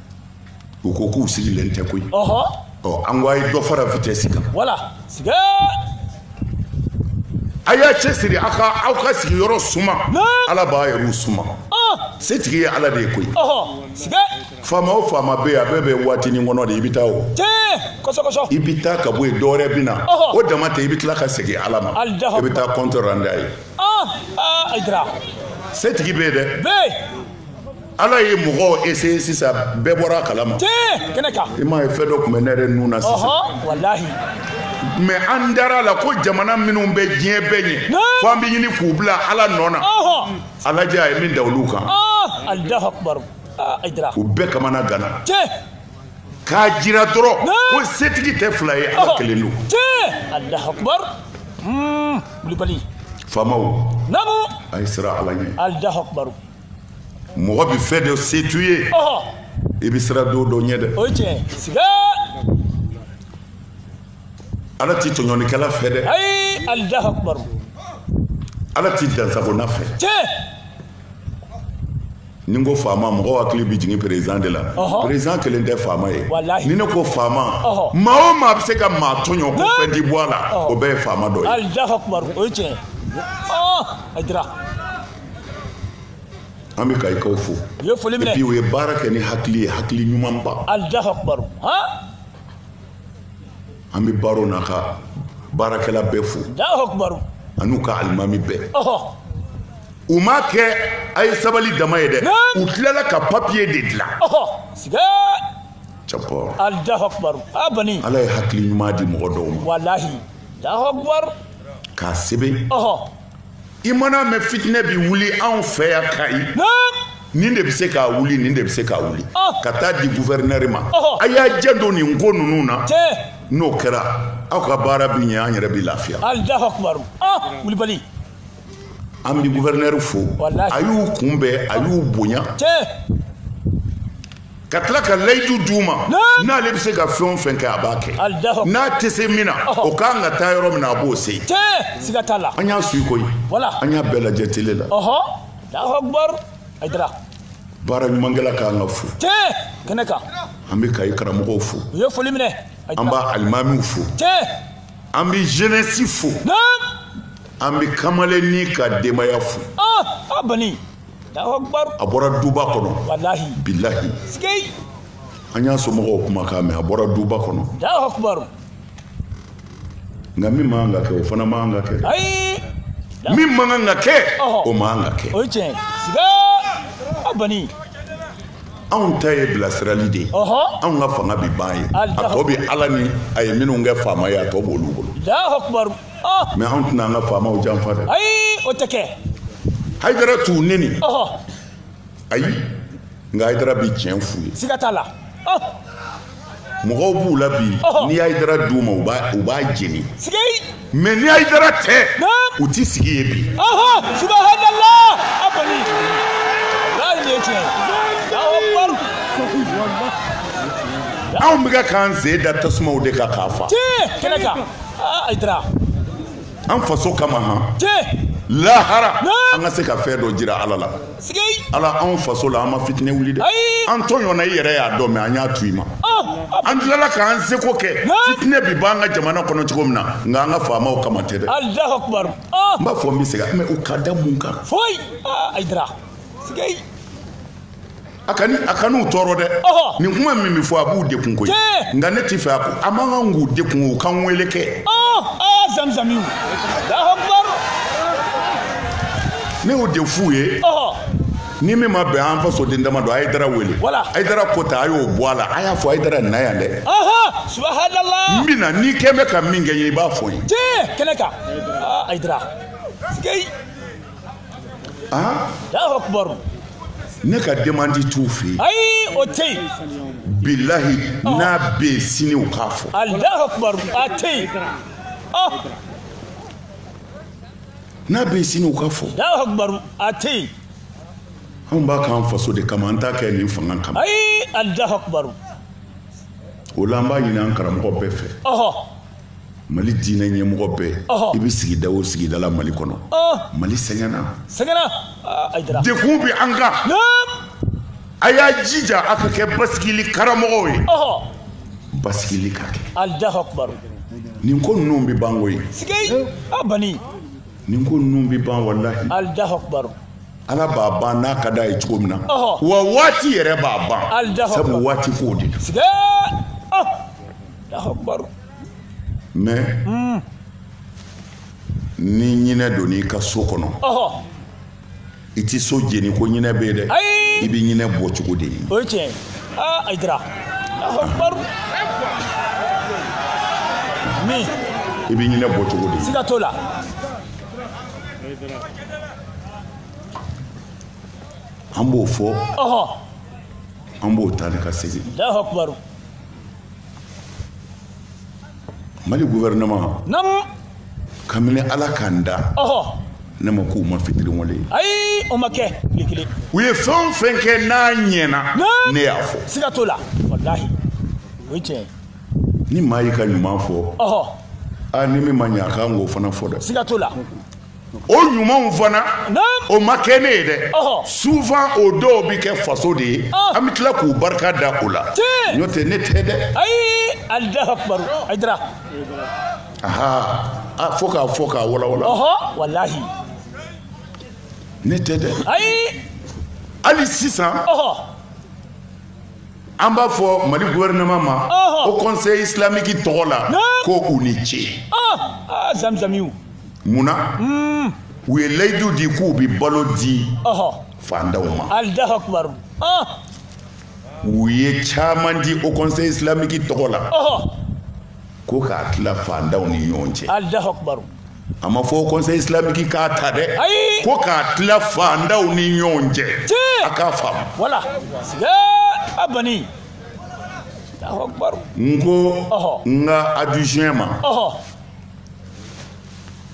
u ko k'u sigilen tɛ koyi ɔhɔ ɔ an ko a ye dɔ fara vitesse kan voilà siga a y'a cɛsiri aw ka aw ka sigiyɔrɔ suma ala b'a yɛrɛw suma setigi ye ala de ye koyi faama o faama bɛ yen a bɛɛ bɛ waatinin kɔnɔ de i bɛ taa o i bɛ taa ka bɔ yen dɔwɛrɛ bɛ na o dama tɛ i bɛ tila ka segin ala ma i bɛ taa compte rendu a ye setigi bɛ yen dɛ ala ye mɔgɔw essayer sisan bɛɛ bɔra a kalama i m'a ye fɛn dɔ tun bɛ ne yɛrɛ nun na sisan mais an dara a la ko jamana minnu bɛ diɲɛ bɛɛ ɲɛ fo an bɛ ɲini k'u bila ala nɔ na a lajɛ a ye min da olu kan u bɛɛ kamanaganna k'a jira dɔrɔn ko setigi tɛ fila ye ala kelen don faamaw a ye siran ala ɲɛ mɔgɔ bɛ fɛn dɔ se t'u ye i bɛ siran don dɔ ɲɛ dɛ o ye tiɲɛ siga ala ti tɔɲɔlikɛla fɛ dɛ ayi alahu akubar ala ti dansagona fɛ tiɲɛ ni n ko faama mɔgɔw hakili bɛ jigin perezidan de la perezidan kelen tɛ faama ye ni ne ko faama maa o maa bɛ se ka maa tɔɲɔ ko fɛn ti bɔ a la o bɛɛ ye faama dɔ ye alahu akubar o ye tiɲɛ a dira an bɛ kayikaw fo u ye foli minɛ bi u ye baara kɛ ni hakili ye hakili ɲumanba alahu akubar an bɛ baro n'a ka baarakɛla bɛɛ fo alahu akubar an'u ka alimami bɛɛ u m'a kɛ a ye sabali dama ye dɛ u tilala ka papiye de dilan cɛpɔ alahu akubar a bani ala ye hakili ɲuman di mɔgɔ dɔw ma walahi alahu akubar k'a sɛbɛn i mana mɛn fitinɛ bi wuli anw fɛ yan kayi nin de bɛ se k'a wuli nin de bɛ se k'a wuli ka taa di guvɛrinɛri ma a y'a janto nin ko ninnu na n'o kɛra aw ka baara bɛ ɲɛ an yɛrɛ bɛ lafiya kulubali an bɛ guvɛrinɛri fo a y'u kunbɛn a y'u bonya ka tila ka layidu di u ma n'ale bɛ se ka fɛn o fɛn kɛ a b'a kɛ n'a tɛ se min na o ka kan ka taa yɔrɔ min na a b'o se an y'a suivi koyi an y'a bɛɛ lajɛ tele la baara ɲumankɛla ka kan ka fo kɛnɛ kan an bɛ kayi karamɔgɔw fo u ye foli minɛ an b'a alimamiw fo an bɛ jeunesse fo an bɛ kamalenni ka denbaya fo a bani a bɔra duba kɔnɔ bilahi an y'a somɔgɔw kumakan mɛn a bɔra duba kɔnɔ nka min man kan ka kɛ o fana man kan ka kɛ min man kan ka kɛ o man kan ka kɛ o ye tiɲɛ ye siga a bani anw ta ye bilasirali de ye anw ka fanga bɛ ban yen a tɔ bɛ ala ni a ye minnu kɛ faama ye a tɔ b'olu bolo mɛ an tɛna an ka faamaw janfa dɛ ayi o tɛ kɛ hayidara t'u neni ayi nka hayidara bi tiɲɛ f'u ye siga t'a la mɔgɔw b'u la bi n'i hayidara d'u ma u b'a u b'a jeni siga mɛ ni hayidara tɛ u ti sigi ye bi subahanala a kɔni walayi nin ye tiɲɛ ye anw bɛ k'an sen da tasumaw de kan k'a fa kɛnɛ kan aa Ayidara an faso kama han tiɲɛ lahara an ka se ka fɛn dɔ jira ala la ala anw faso la an ma fitinɛ wuli dɛ an tɔɲɔna i yɛrɛ y'a dɔn mais an y'a to i ma an tilala k'an seko kɛ fitinɛ bi b'an ka jamana kɔnɔ cogo min na nka an ka faamaw kama tɛ dɛ n b'a fɔ n bɛ segin mais u ka da mun kan foyi Ayidara a ka a kan'u tɔɔrɔ dɛ nin kuma min bɛ fɔ a b'u dekun koyi nka ne t'i fɛ a ko a man kan k'u dekun u ka n wele kɛ zamzamiw ne y'o de f'u ye ni min ma bɛn an fasoden dama don Ayidara wele Ayidara ko ta a y'o bɔ a la a y'a fɔ Ayidara na yan dɛ n bɛ na n'i kɛ bɛ ka min kɛ n ye i b'a fɔ n ye kɛnɛ kan Ayidara aa Allahu akbar ne ka demande t'u fɛ yen ayi o tɛ yen bilahi n'a bɛ yen sini u k'a fɔ Allahu akbar a tɛ yen ɔ n'a bɛ yen sini u k'a fɔ Allahu akbar a tɛ yen anw b'a k'an faso de kama an t'a kɛ nin fanga kama ayi Allahu akbar o la an b'a ɲini an karamɔgɔ bɛɛ fɛ ɔhɔ mali diinɛ ɲɛmɔgɔ bɛɛ i bɛ sigida o sigida la mali kɔnɔ mali sɛgɛnna sɛgɛnna dekun bɛ an kan a y'a jija a ka kɛ basigili karamɔgɔw ye basigili ka kɛ nin ko ninnu bɛ ban koyi bani nin ko ninnu bɛ ban walahi ala b'a ban n'a ka d'a ye cogo min na wa waati yɛrɛ b'a ban sabu waati ko de don mais hmm. ni ɲinɛ donn'i ka so kɔnɔ i tɛ so jeni ko ɲinɛ bɛ yen dɛ i bɛ ɲinɛ bɔ cogo de ɲini o ye tiɲɛ ye aa Ayidara min i bɛ ɲinɛ bɔ cogo de ɲini siga t'o la an b'o fɔ an b'o taa ni ka segin mali gouvernement namu kabini ala k'an da ɔhɔ ne ma k'u ma fitiriwale ye ayi o ma kɛ tile kelen u ye fɛn o fɛn kɛ n'a ɲɛna ne y'a fɔ siga t'o la walahi o ye tiɲɛ ni maa y'i ka ɲuman fɔ ɔhɔ ani min ma ɲɛ a kan k'o fana fɔ dɛ siga t'o la o ɲumanw fana o ma kɛ ne ye dɛ souvent o dɔw bɛ kɛ faso de ye ah. an bɛ tila k'u barika da o la n'o tɛ ne tɛ dɛ a fɔ k'a fɔ k'a walawala ne tɛ dɛ hali sisan an b'a fɔ mali gouvernement ma haut conseil islamique tɔgɔ la ko u ni ce mun na hmm. u ye layidu di k'u bɛ balo di fandaw ma u ye caman di haut conseil islamique tɔgɔ la ko k'a tila fandaw ni ɲɔgɔn cɛ a ma fɔ haut conseil islamique k'a ta dɛ ko k'a tila fandaw ni ɲɔgɔn cɛ a k'a faamu wala a ban n ko n ka adjoint ma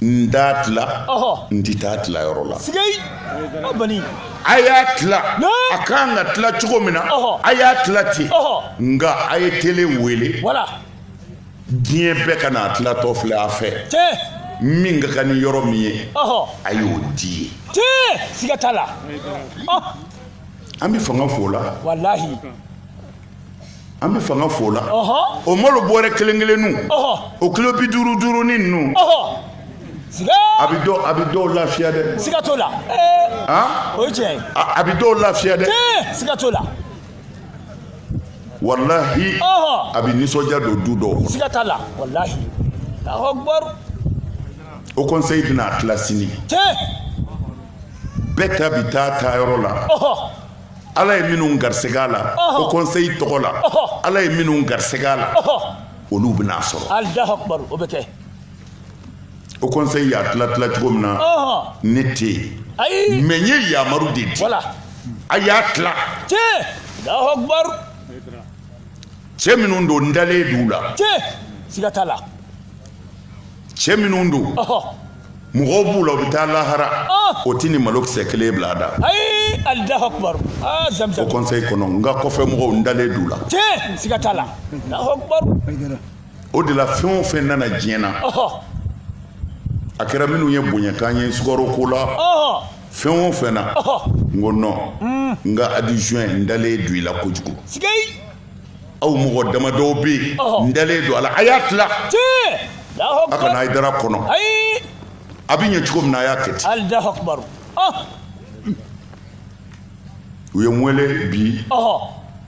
n t'a tila n tɛ taa tila yɔrɔ la a y'a tila a kan ka tila cogo min na a y'a tila ten nka a ye télé wele diɲɛ bɛɛ ka n'a tilatɔ filɛ a fɛ min ka kan ni yɔrɔ min ye a y'o di ye siga t'a la an bɛ fanga f'o la walahi an bɛ fanga f'o la o malo bɔrɛ kelen kelennu o kilo bi duuru duurunin ninnu a bɛ dɔw a bɛ dɔw lafiya dɛ siga t'o la o ye tiɲɛ ye a bɛ dɔw lafiya dɛ siga t'o la walahi a bɛ nisɔndiya don du dɔw kɔnɔ siga t'a la walahi allahu akbar haut conseil bɛna a tila sini tiɲɛ bɛɛ ta bi taa taa yɔrɔ la ala ye minnu garisɛgɛ a la haut conseil tɔgɔ la ala ye minnu garisɛgɛ a la olu bɛna a sɔrɔ allahu akbar o bɛ kɛ haut conseil y'a tila tila cogo min na ne tɛ yen mais n ye yamaru de di a y'a tila cɛ minnu don n dalen d'u la siga t'a la cɛ minnu don mɔgɔw b'u la u bɛ taa lahara o tɛ nin malokisɛ kelen bila a da haut conseil kɔnɔ n ka kɔfɛ mɔgɔw n dalen d'u la siga t'a la o de la fɛn o fɛn nana diɲɛ na a kɛra minnu ye bonyakan ye sukaro ko la fɛn o fɛn na n ko non hmm. n ka adjoint n dalen don i la kojugu aw mɔgɔ damadɔw bɛ yen n dalen don a la a y'a tila a kana hayidara kɔnɔ a bɛ ɲɛ cogo min na a y'a kɛ ten u ye n wele bi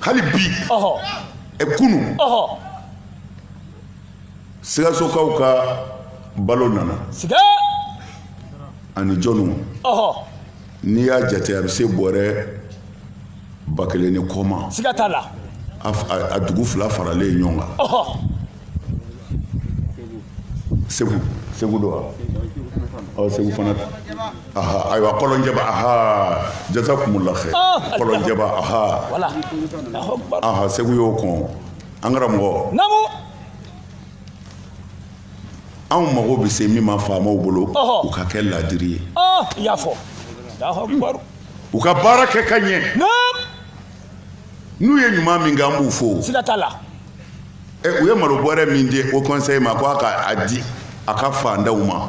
hali bi ɛ kunu sikasokaw ka balo nana ani jɔnw n'i y'a jate a bɛ se bɔrɛ ba kelen ni kɔ ma a dugu fila faralen ɲɔgɔn kan segu segu don wa ɔ segu fana aha ayiwa kɔlɔnjɛba aha jazakumullah khair kɔlɔnjɛba aha aha segu y'o kɔn an karamɔgɔ anw mago bɛ se min ma faamaw bolo u ka kɛ laadiri ye i y'a fɔ u ka baara kɛ ka ɲɛ n'u ye ɲuman min kɛ an b'u fo siga t'a la u ye malo bɔrɛ min di haut conseil ma ko a ka a di a ka fantanw ma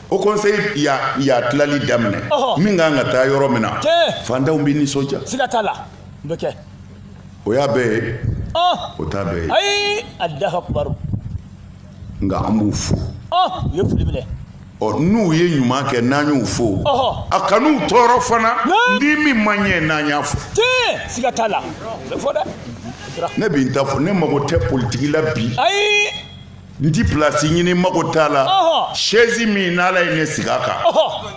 haut conseil y'a tilali daminɛ min ka kan ka taa yɔrɔ min na fantanw bɛ nisɔndiya o y'a bɛɛ ye o t'a bɛɛ ye allahu akbar nka an b'u fo n'u ye ɲuman kɛ n'an y'u fo a kan'u tɔɔrɔ fana ni min ma ɲɛ n'an y'a fɔ ne bɛ n ta fɔ ne mago tɛ politiki la bi n ti pilasi ɲini mago t'a la sɛzi min n'ala ye ne sigi a kan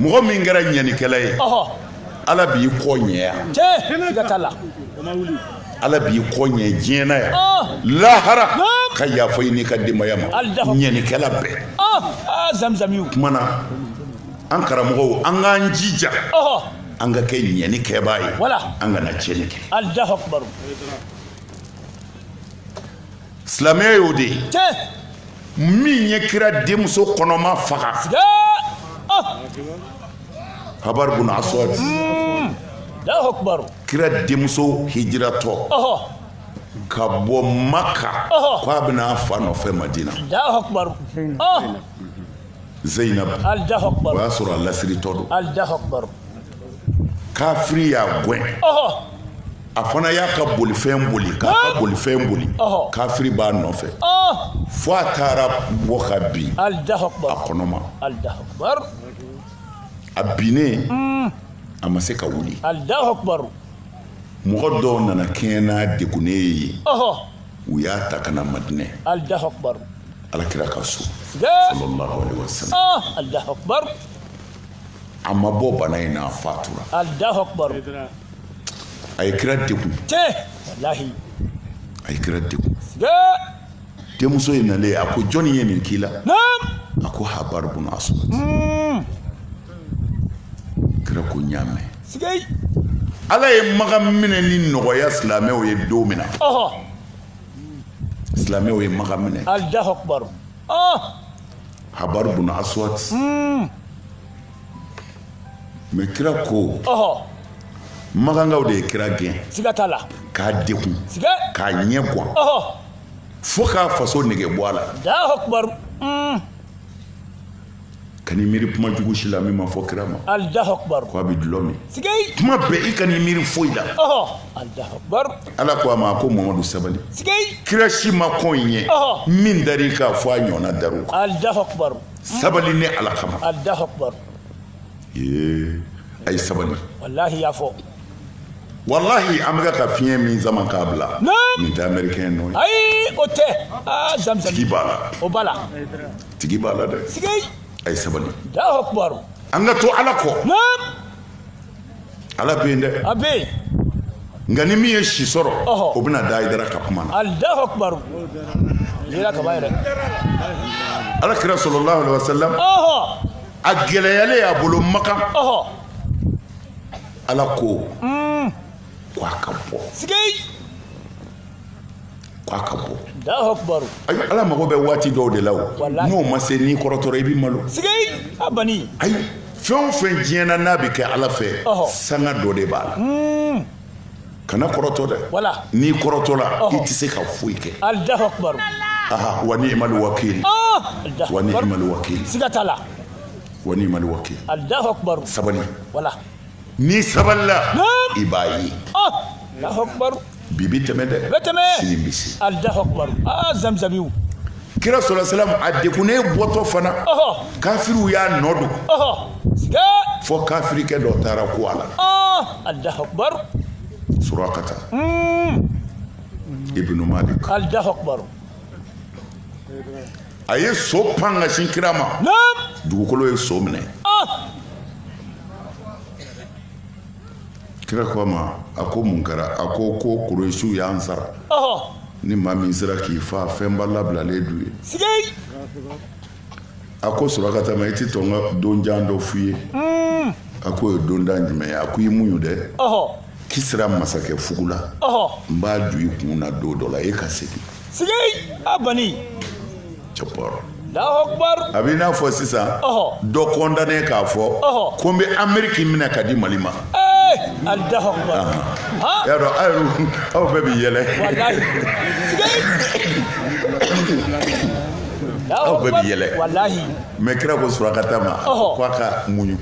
mɔgɔ min kɛra ɲɛnikɛla ye ala b'i kɔ ɲɛya ala b'i kɔ ɲɛ diɲɛ na yan lahara ka yafa i n'i ka denbaya ma ɲɛnikɛla bɛɛ tuma na an karamɔgɔw an k'an jija an ka kɛ ɲɛnikɛbaa ye an kana tiɲɛni kɛ silamɛya y'o de ye min ye kira denmuso kɔnɔma faga habari bun aswad kira denmuso hijiratɔ ka bɔ maka ko a bɛ na a fa nɔfɛ madina zeyinabu o y'a sɔrɔ a lasiritɔ don kafiri y'a gɛn a fana y'a ka bolifɛn boli k'a ka bolifɛn boli kafiri b'a nɔfɛ fo a taara bɔ ka bin a kɔnɔma a binnen mm. a ma se ka wuli mɔgɔ dɔw nana kɛɲɛ n'a degunnen ye u y'a ta ka na madinɛ alakira ka so sallallahu alaihi wasallam a ma bɔ bana in na a fatura a ye kira degun a ye kira degun denmuso in nalen a ko jɔnni ye nin k'i la a ko habari bun aswad hmm. kira ko n y'a mɛn ala ye makan minɛni nɔgɔya silamɛw ye don min na silamɛw ye makan minɛ habaru bun aswat hmm. mɛ kira ko makankaw de ye kira gɛn siga t'a la k'a degun k'a ɲɛgan fo k'a faso nege bɔ a la hmm. kan'i miiri kuma jugu si la min ma fɔ kira ma ko a bɛ dulɔ min kuma bɛɛ i kan'i miiri foyi la ala ko a ma ko mamadu sabali kira si ma kɔn i ɲɛ min dar'i kan fo a ɲɔgɔnna dar'u kan sabali ni ala kama a ye sabali walahi y'a fɔ walahi an bɛka ka fiɲɛ min sama k'a bila nin tɛ amɛrikɛn nɔ ye ayi o tɛ aa zamisɛn tigi b'a la o b'a la tigi b'a la dɛ a ye sabali an ka to ala kɔ ala bɛ yen dɛ a bɛ yen nka ni min ye si sɔrɔ o bɛna da ayidara ka kuma na alahu akubaru yera kaba yɛrɛ ala kira salalahu alayhi wa sallam a gɛlɛyalen a bolo makan ala ko mm. ko a ka bɔ k'a ka bɔ ayi ala mago bɛ waati dɔw de la o n'o ma se n'i kɔrɔtɔra i bɛ malo ayi fɛn o fɛn diɲɛ na n'a bɛ kɛ ala fɛ sanga dɔ de b'a la hmm. kana kɔrɔtɔ dɛ n'i kɔrɔtɔla i tɛ se ka foyi kɛ aha wa ni imali wakili wa ni imali wakili siga t'a la wa ni imali wakili sabali n'i sabalila i b'a ye bi bɛ tɛmɛ dɛ bɛ tɛmɛ sini bɛ se alahu akubaru aa zamizabiw kira salalahu alayhi wa sallam a degunnen bɔtɔ fana kafiriw y'a nɔ don fo kafirikɛ dɔ taara kun a la alahu akubaru surakata hmm. ibnu malik alahu akubaru a ye so pan ka sin kira ma dugukolo ye so minɛ kira ko a ma a ko mun kɛra a ko ko kuresiw y'an sara ni maa min sera k'i fa fɛnba labilalen d'u ye a ko surakata ma i tɛ to n ka donjan dɔ f'i ye hmm. a ko o ye donjan jumɛn ye a ko i muɲu dɛ kisira masakɛ fugula n b'a ju i kun na don dɔ la e ka segin segin a bani a b'i n'a fɔ sisan dɔ kɔndane k'a fɔ ko n bɛ ameriki minɛ k'a di mali ma y'a dɔn aw bɛɛ bɛ yɛlɛ aw bɛɛ bɛ yɛlɛ mɛ kira ko surakata ma ko a ka muɲu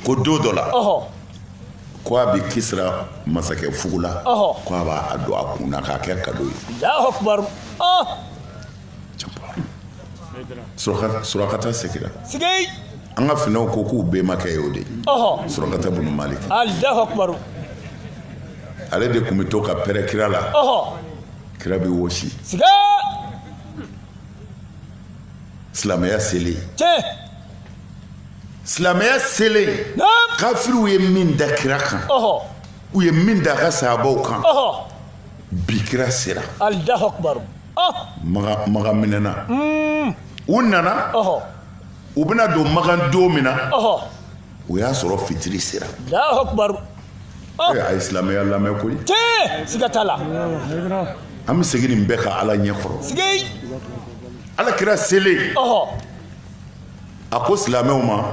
ko don dɔ la ko a bɛ kisira masakɛ fugula ko a b'a don a kun na k'a kɛ kado ye surakata segira an ka finɛw ko k'u bɛmakɛ ye o de ye surakata bunu malik ale de tun bɛ to ka pɛrɛ kira la kira bɛ wɔsi silamɛya selen tiɲɛ silamɛya selen kafiriw ye min da kira kan u ye min da a ka sahabaw kan bi kira sera alahu akubaru magan minɛna hmm. u nana u bɛna don magan don min na o y'a sɔrɔ fitiri sera oh. eh, a ye silamɛya lamɛn koyi siga t'a la an bɛ segin nin bɛɛ kan ala ɲɛ kɔrɔ ala kira selen a ko silamɛw ma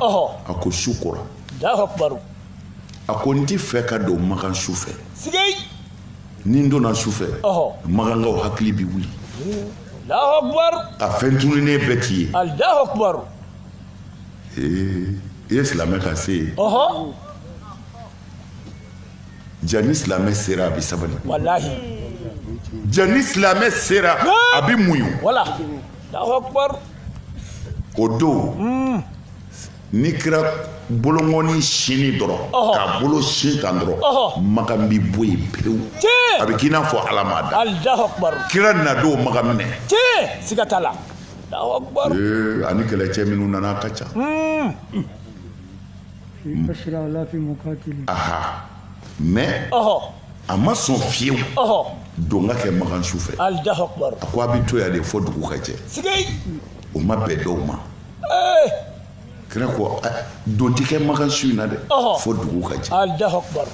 a ko su kora a ko n tɛ fɛ ka don makan su fɛ ni n donna su fɛ makankaw hakili bɛ wuli a fɛn tununnen bɛɛ tɛ ye i ye silamɛ ka se ye ja ni silamɛ sera a bɛ sabali ja ni silamɛ sera a bɛ muɲu o don hmm. ni kira bolonkɔni sini dɔrɔn k'a bolo sin kan dɔrɔn makan bɛ bɔ yen pewu a bɛ k'i n'a fɔ ala m'a da kira na don makan minɛ siga t'a la ani kɛlɛcɛ minnu nana ka ca mɛ a ma sɔn fiyewu don ka kɛ makan su fɛ a ko a bɛ to yan de fɔ dugu ka jɛ o ma bɛn dɔw ma kira ko don tɛ kɛ makan su in na dɛ fo dugu ka jɛ alahu akubar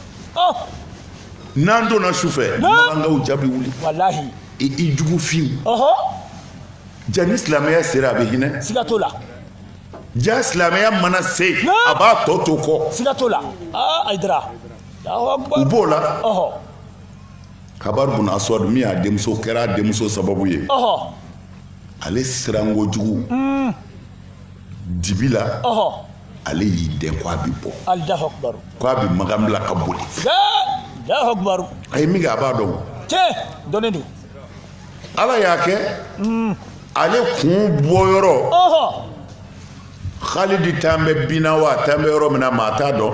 n'an donna su fɛ makankaw ja bɛ wuli walahi i jugu fiw ja ni silamɛya sera a bɛ hinɛ siga t'o la ja silamɛya mana se a b'a tɔ to kɔ siga t'o la ayidara u b'o la habari buna aswad min y'a denmuso kɛra a denmuso sababu ye ale siranko jugu dibi la ale y'i dɛn ko a bɛ bɔ ko a bɛ magan bila ka boli a ye min kɛ a b'a dɔn dɔnnen don ala y'a kɛ mm. ale kun bɔyɔrɔ halidi tan bɛ binna wa tan bɛ yɔrɔ min na maa t'a dɔn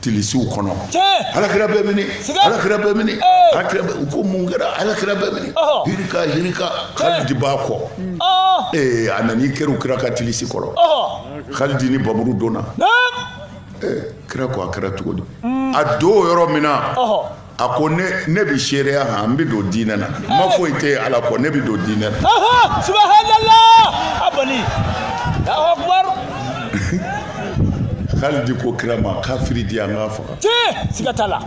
tilisiw kɔnɔ alakira bɛ mini alakira bɛ mini alakira bɛ u ko mun kɛra alakira bɛ mini hirika hirika Khalid b'a kɔ ee a nana i kɛru kira ka tilisi kɔrɔ Khalid ni panmuru donna kira ko a kɛra cogo di a don yɔrɔ min na a ko ne bɛ seereya han n bɛ don diinɛ na ma foyi tɛ yen ala kɔ ne bɛ don diinɛ na. subahanala abali alahu akubaru. khalidi ko kira ma kafiri di an k'a faga. tiɲɛ siga t'a la.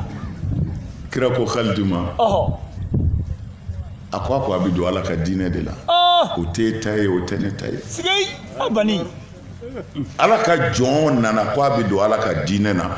kira ko khalidi ma. a ko a ko a bɛ don ala ka diinɛ de la. o t'e ta ye o tɛ ne ta ye. siga yi abali. ala ka jɔn nana ko a bɛ don ala ka diinɛ na.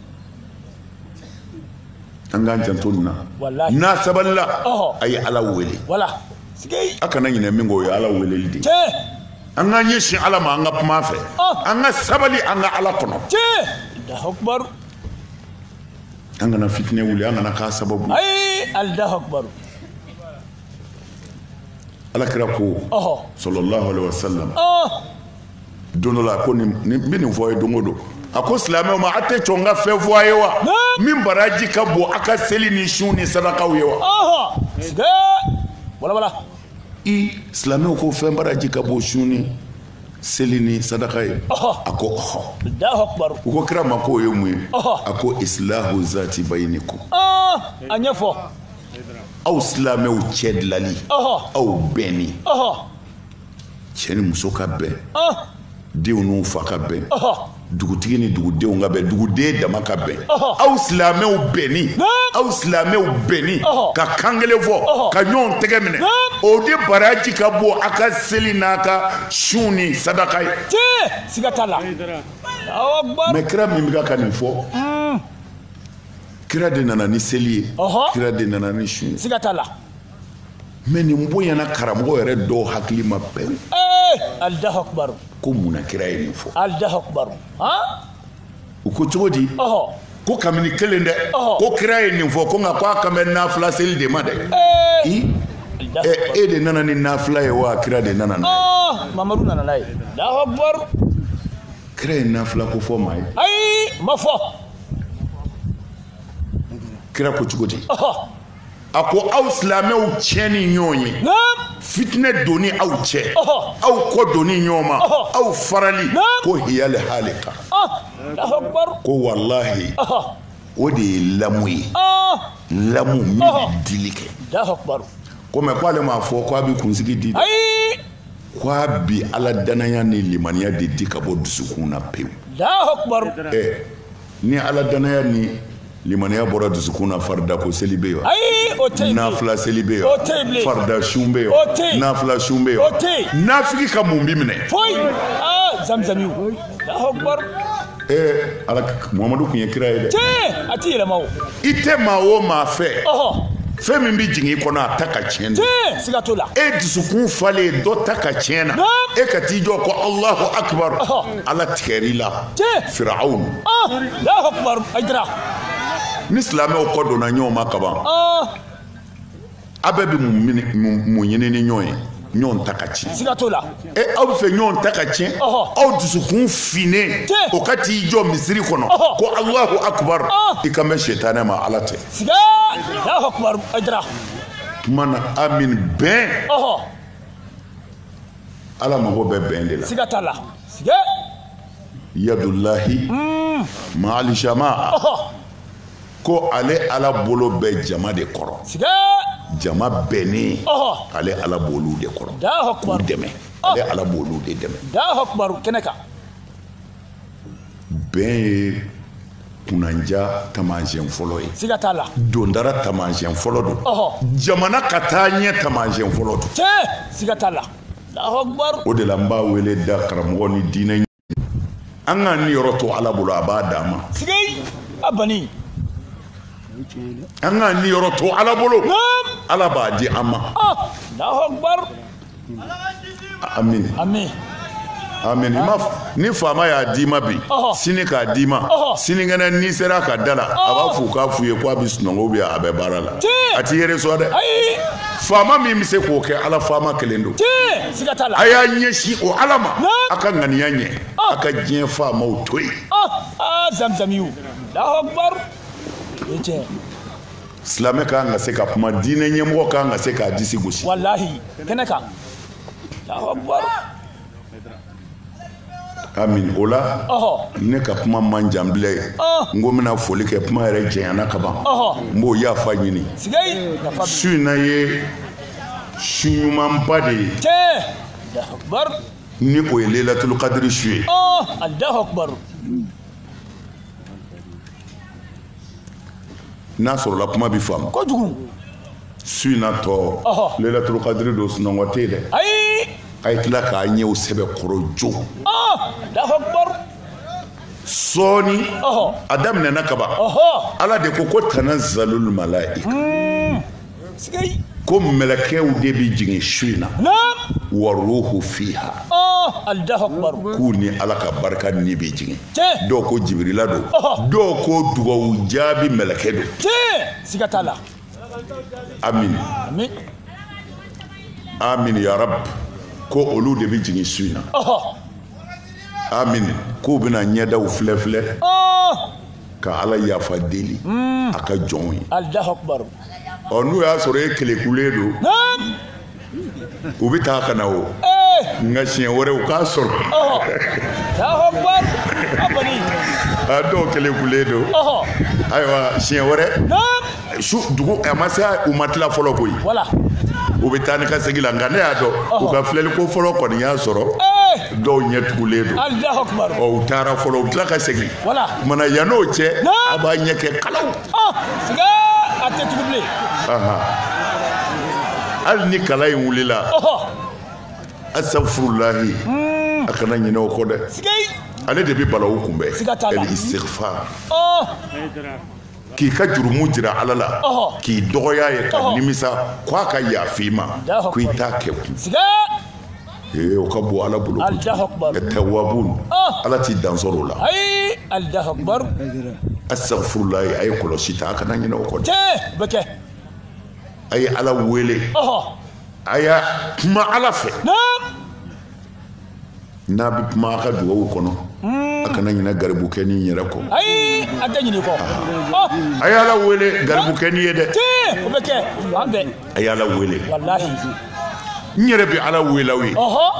an k'an janto nin na Walahi. n'a sabalila Ɔhɔ. a ye ala wele wala sigi a kana ɲinɛ min kɔ o ye ala weleli de ye cɛ an k'an ɲɛsin ala ma an ka kuma a fɛ Ɔh. an ka sabali an ka ala kɔnɔ cɛ alahakubaru an kana fitinɛ wuli an kana k'a sababu ye. ayi alahakubaru ala kira ko ɔhɔ salalahu alaihi wasallam ɔh don dɔ la ko ne bɛ nin fɔ a ye don o don a ko silamɛw ma a tɛ sɔn n ka fɛn fɔ a ye wa min baraji ka bon a ka seli ni sun ni sadakaw ye wa walawala i silamɛw ko fɛn baraji ka bon sun ni seli ni sadaka ye a ko ɔhɔ u ko kira ma ko o ye mun ye a ko isilahu zati bayinikum a ɲɛfɔ aw silamɛw cɛ dilali aw bɛnni cɛ ni muso ka bɛn denw n'u fa ka bɛn dugutigi ni dugudenw ka bɛn duguden dama ka bɛn aw silamɛw bɛnni aw silamɛw bɛnni ka kan kelen fɔ ka ɲɔgɔn tɛgɛ minɛ o de baraji ka bon a ka seli n'a ka sun ni sadaka ye siga t'a la mɛ kira min bɛ ka nin fɔ hmm. kira de nana ni seli ye kira de nana ni sun ye siga t'a la mɛ nin bonyana karamɔgɔ yɛrɛ dɔw hakili ma bɛn alahu akubaru ko mun na kira ye nin fɔ alahu akubaru u ko cogo di ko kabini kelen dɛ ko kira ye nin fɔ ko nka ko a kan bɛ nafila seli de ma dɛ e de nana ni nafila ye wa kira de nana n'a ye mamadu nana n'a ye alahu akubaru kira ye nafila ko fɔ maa ye ayi ma fɔ kira ko cogo di a ko aw silamɛw tiɲɛni ɲɔgɔn ye fitinɛ donni aw cɛ aw kɔ donni ɲɔgɔn ma aw farali ko hiyali halika ko walahi o de ye lamu ye lamu min bɛ dili kɛ ko mɛ k'ale m'a fɔ k'a bɛ kunsigi di dɛ k'a bi ala danaya ni limaniya de di ka bɔ dusukun na pewu. Ni ala dannaya ni limaniya bɔra dusukun na farida ko seli bɛ yen nafila seli bɛ yen farida sun bɛ yen nafila sun bɛ yen nafigi ka mun bɛ minɛ muhamadu tun ye kira ye dɛ a tɛ yɛlɛma i tɛ maa o maa fɛ fɛn min bɛ jigin i kɔnɔ a ta ka tiɲɛ na la e dusukun falen dɔ ta ka tiɲɛ na e ka t'i jɔ ko alahu akibaru ala tigɛr'i la fewu ni silamɛw kɔ donna ɲɔgɔn ma kaban a bɛɛ bɛ mun ɲini ni ɲɔgɔn ye ɲɔgɔn ta ka tiɲɛ siga t'o la e aw bɛ fɛ ɲɔgɔn ta ka tiɲɛ aw dusukun finnen o ka t'i jɔ misiri kɔnɔ ko alahu akubaru i kan bɛ setanɛ ma ala tɛ siga alahu akubaru ayidara tuma na amin bɛn ala mago bɛ bɛn de la siga t'a la siga yadulahi hmm. maalijama ko ale ala bolo bɛ jama de kɔrɔ siga jama bɛnnen ale ala b'olu de kɔrɔ k'u dɛmɛ ale ala b'olu de dɛmɛ kɛnɛ kan bɛn ye kunnandiya taamasiyɛn fɔlɔ ye siga t'a la dondara taamasiyɛn fɔlɔ don jamana ka taaɲɛ taamasiyɛn fɔlɔ don tiɲɛ siga t'a la o de la n b'a wele da karamɔgɔ ni diinɛ an k'an niyɔrɔ to ala bolo a b'a d'an ma siga a bani an k'an niyɔrɔ to ala bolo ala b'a di an ma amin amin amiina ni faama y'a d'i ma bi sini k'a d'i ma sinikɛnɛ n'i sera ka da la a b'a f'u k'a f'u ye ko a bɛ sunɔgɔ ou bien a bɛ baara la a t'i yɛrɛ sɔn dɛ faama min bɛ se k'o kɛ ala faama kelen don a y'a ɲɛsin o ala ma a ka ŋaniya ɲɛ a ka diɲɛ faamaw to yen zamzamiw silamɛ ka kan ka se ka kuma diinɛ ɲɛmɔgɔ ka kan ka se k'a disi gosi walahi kɛnɛ kan amin o la ne ka kuma man jan bilen n ko n bɛna foli kɛ kuma yɛrɛ janyana kaban n b'o yafa ɲini su in na ye su ɲumanba de ye ni o ye lelatulu kadiri su ye n'a sɔrɔla kuma bɛ faamu kojugu su in na tɔ lelatulu kadiri don sunɔgɔ tɛ yen dɛ ayi a ye tila k'a ɲɛw sɛbɛkɔrɔ jo sɔɔni a daminɛna kaban ala de ko ko tanazalul malaika hmm. ko mɛlɛkɛw de bɛ jigin su in na wa ruhu fiha k'u ni ala ka barika ni bɛ jigin dɔw ko jibirila don dɔw ko dugawu jaabi mɛlɛkɛ don siga t'a la amin amin ya rab ko olu de bɛ jigin su in na amin k'u bɛna ɲɛdaw filɛ filɛ ka ala yafa deli hmm. a ka jɔnw ye ɔ n'u y'a sɔrɔ e kelekulen don u bɛ taa ka na o eh. nka siɲɛ wɛrɛ u k'a sɔrɔ a dɔw kelekulen don ayiwa siɲɛ wɛrɛ su dugu a ma se u ma tila fɔlɔ koyi voilà u bɛ taa ni ka segin la nka ne y'a dɔn u ka filɛli ko fɔlɔ kɔni y'a sɔrɔ eh! dɔw ɲɛ tugulen don Allahu Akbar ɔ u taara fɔlɔ u tila ka segin voilà kumana yann'o cɛ a b'a ɲɛ kɛ kalaw ɔ siga a tɛ tugu bilen hali ni kalan in wulila astafurulahi hmm. a kana ɲinɛ o kɔ dɛ ale de bɛ balawu kunbɛn el istighfar k'i ka jurumu jira ala la k'i dɔgɔya ye ka nimisa ko a ka yafa i ma ko i t'a kɛ kun ee o ka bon ala bolo tawwabu ala t'i dansɔrɔ o la astafurulahi a ye kɔlɔsi ta a kana ɲinɛ o kɔ dɛ a ye ala wele a ye kuma ala fɛ n'a bɛ kuma a ka dugawu kɔnɔ a kana ɲinɛ garibukɛnin in yɛrɛ kɔ ayi a tɛ ɲinɛ i kɔ oh. a ye ala wele garibukɛnin ye dɛ o bɛ kɛ fan bɛɛ a ye ala wele walahi n yɛrɛ bɛ ala wele aw ye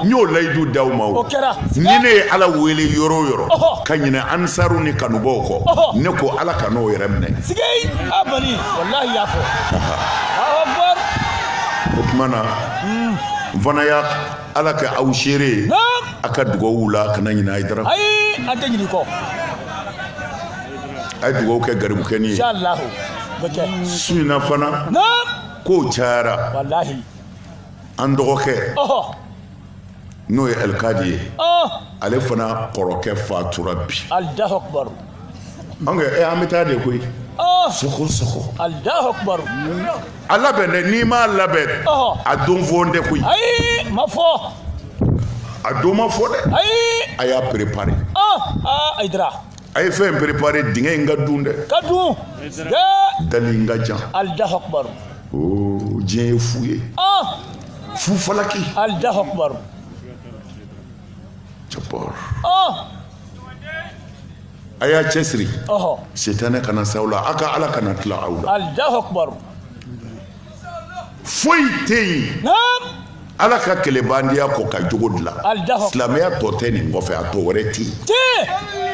n y'o layidu d'aw ma o kɛra ni ne ye ala wele yɔrɔ o yɔrɔ ka ɲinɛ ansaru ni kanubaaw kɔ ne ko ala ka n'o yɛrɛ minɛ sigei a bani walahi y'a fɔ o tuma na n fana y'a ala ka aw seere a ka dugawuw la kana ɲinɛ ayidara an tɛ ɲinɛ i kɔ a ye dugawu kɛ garibukɛni ye su in na fana kow cayara an dɔgɔkɛ n'o ye alikadi ye ale fana kɔrɔkɛ fatura bi an e an bɛ taa de koyi sogo sogo a labɛn dɛ n'i m'a labɛn a don fɔlen tɛ koyi ayi ma fɔ a don ma fɔ dɛ ayi a y'a préparer ayidara a ye fɛn préparer dingɛ in ka dun dɛ ka dun dali in ka jan Allahu Akbar diɲɛ ye fu ye fu falaki Allahu Akbar Jabbar. Oh! A y'a cɛsiri. Ɔhɔ! Sitanɛ kana s'aw la, a ka Ala kana tila aw la. Alahu akibaru! Foyi tɛ yen. Naamu! Ala ka kɛlɛbaandenya kɔ ka jogo dilan. Alahu akibaru! Silamɛya tɔ tɛ nin kɔfɛ, a tɔ wɛrɛ tɛ yen. Tiɲɛ!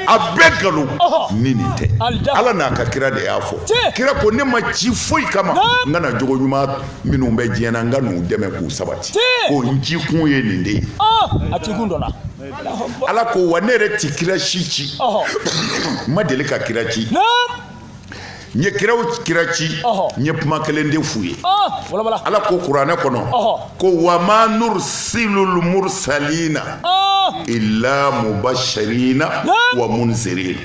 A bɛɛ nkalon. Ɔhɔ! Ni nin tɛ. Alahu akibaru! Ala n'a ka kira de y'a fɔ. Tiɲɛ! Kira ko ne ma ci foyi kama. Naamu! N ka na jogo ɲuman minnu bɛ diɲɛ na n ka n'u dɛmɛ k'u sabati ko n ci kun ye nin de ye a ci kun dɔ la ala ko wa ne yɛrɛ ti kira si ci n ma deli ka kira ci n ye kiraw kira ci n ye kuma kelen de f'u ye ala ko kuranɛ kɔnɔ ko wa ma nursilul mursalina illa mubashirina wa munzirina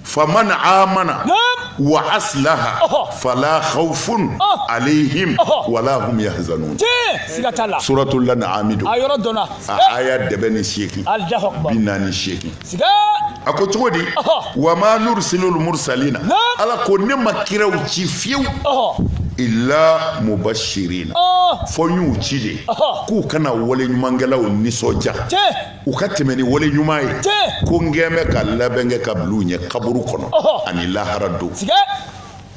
faman amana wa asilaha fala hawufun alehim wala hum yahzanun siga t'a la suratul anami don a yɔrɔ dɔnna a aya dɛbɛ ni seegin Allahu akbar bi naani seegin siga a ko cogo di wa ma nursilul mursalina ala ko ne ma kiraw ci fiyewu illa mubashirina fɔ n y'u ci de k'u ka na waleɲumankɛlaw nisɔndiya u ka tɛmɛ ni wale ɲuman ye ko n kɛn bɛ ka labɛn kɛ ka bila u ɲɛ kaburu kɔnɔ ani lahara don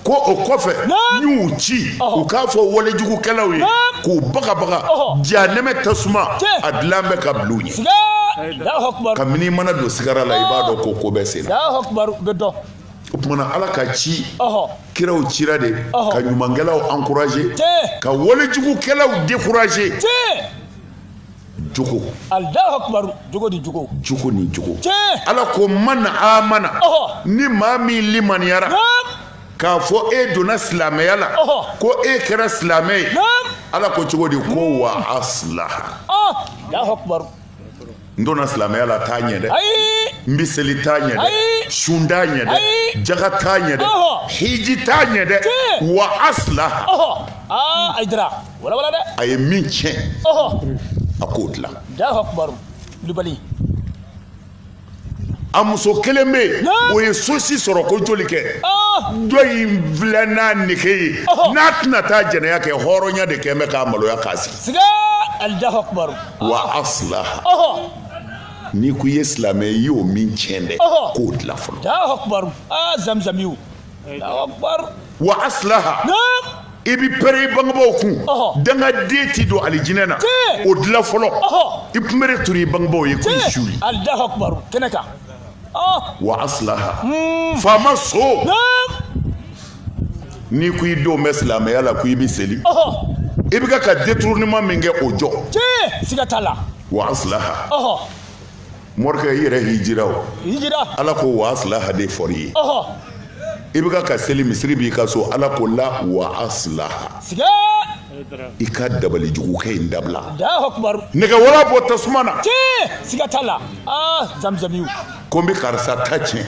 ko o kɔfɛ n y'u ci u k'a fɔ walejugukɛlaw ye k'u bagabaga jahanɛmɛ tasuma a dilan bɛ ka bila u ɲɛ kabini mana don sigara la i b'a dɔn ko ko bɛ sen na o tuma na ala ka ci kiraw cira de ka ɲumankɛlaw encourager ka walejugukɛlaw décourager jogo alahu akubaru jogo ni jogo jogo ni jogo tiɲɛ ala ko man amana ni maa min limaniyara k'a fɔ e donna silamɛya la ko e kɛra silamɛ ye ala ko cogo di ko wa asilaha alahu akubaru n donna silamɛya la t'a ɲɛ dɛ n bɛ seli t'a ɲɛ dɛ sun t'a ɲɛ dɛ jaga t'a ɲɛ dɛ hiji t'a ɲɛ dɛ wa asilaha a jira walawala dɛ a ye min tiɲɛ a k'o dilan kulubali a muso kelen bɛ yen o ye sosi sɔrɔ ko joli kɛ dɔ in filɛ n'a nege ye n'a tɛna taa jɛnɛya kɛ hɔrɔnya de kɛn bɛ k'a maloya k'a sigi wa asilaha n'i ko i ye silamɛ i y'o min tiɲɛ dɛ k'o dilan fɔlɔ wa aslaha i bɛ pɛrɛn i bangebaaw kun dangaden ti don alijinɛ na o dilan fɔlɔ i kunbere turu i bangebaaw ye k'i suuli wa aslaha hmm. faama so n'i ko i don bɛ silamɛya la ko i bɛ seli i bɛ ka détournement min kɛ o jɔ siga t'a la wa aslaha morikɛ i yɛrɛ hijira o ala ko wa aslaha de fɔr'i ye i bɛ ka seli misiri b'i ka so ala ko la wa aslaha i ka dabalijugukɛ in dabila nɛgɛwala bɔ tasuma na ko n bɛ karisa ta tiɲɛ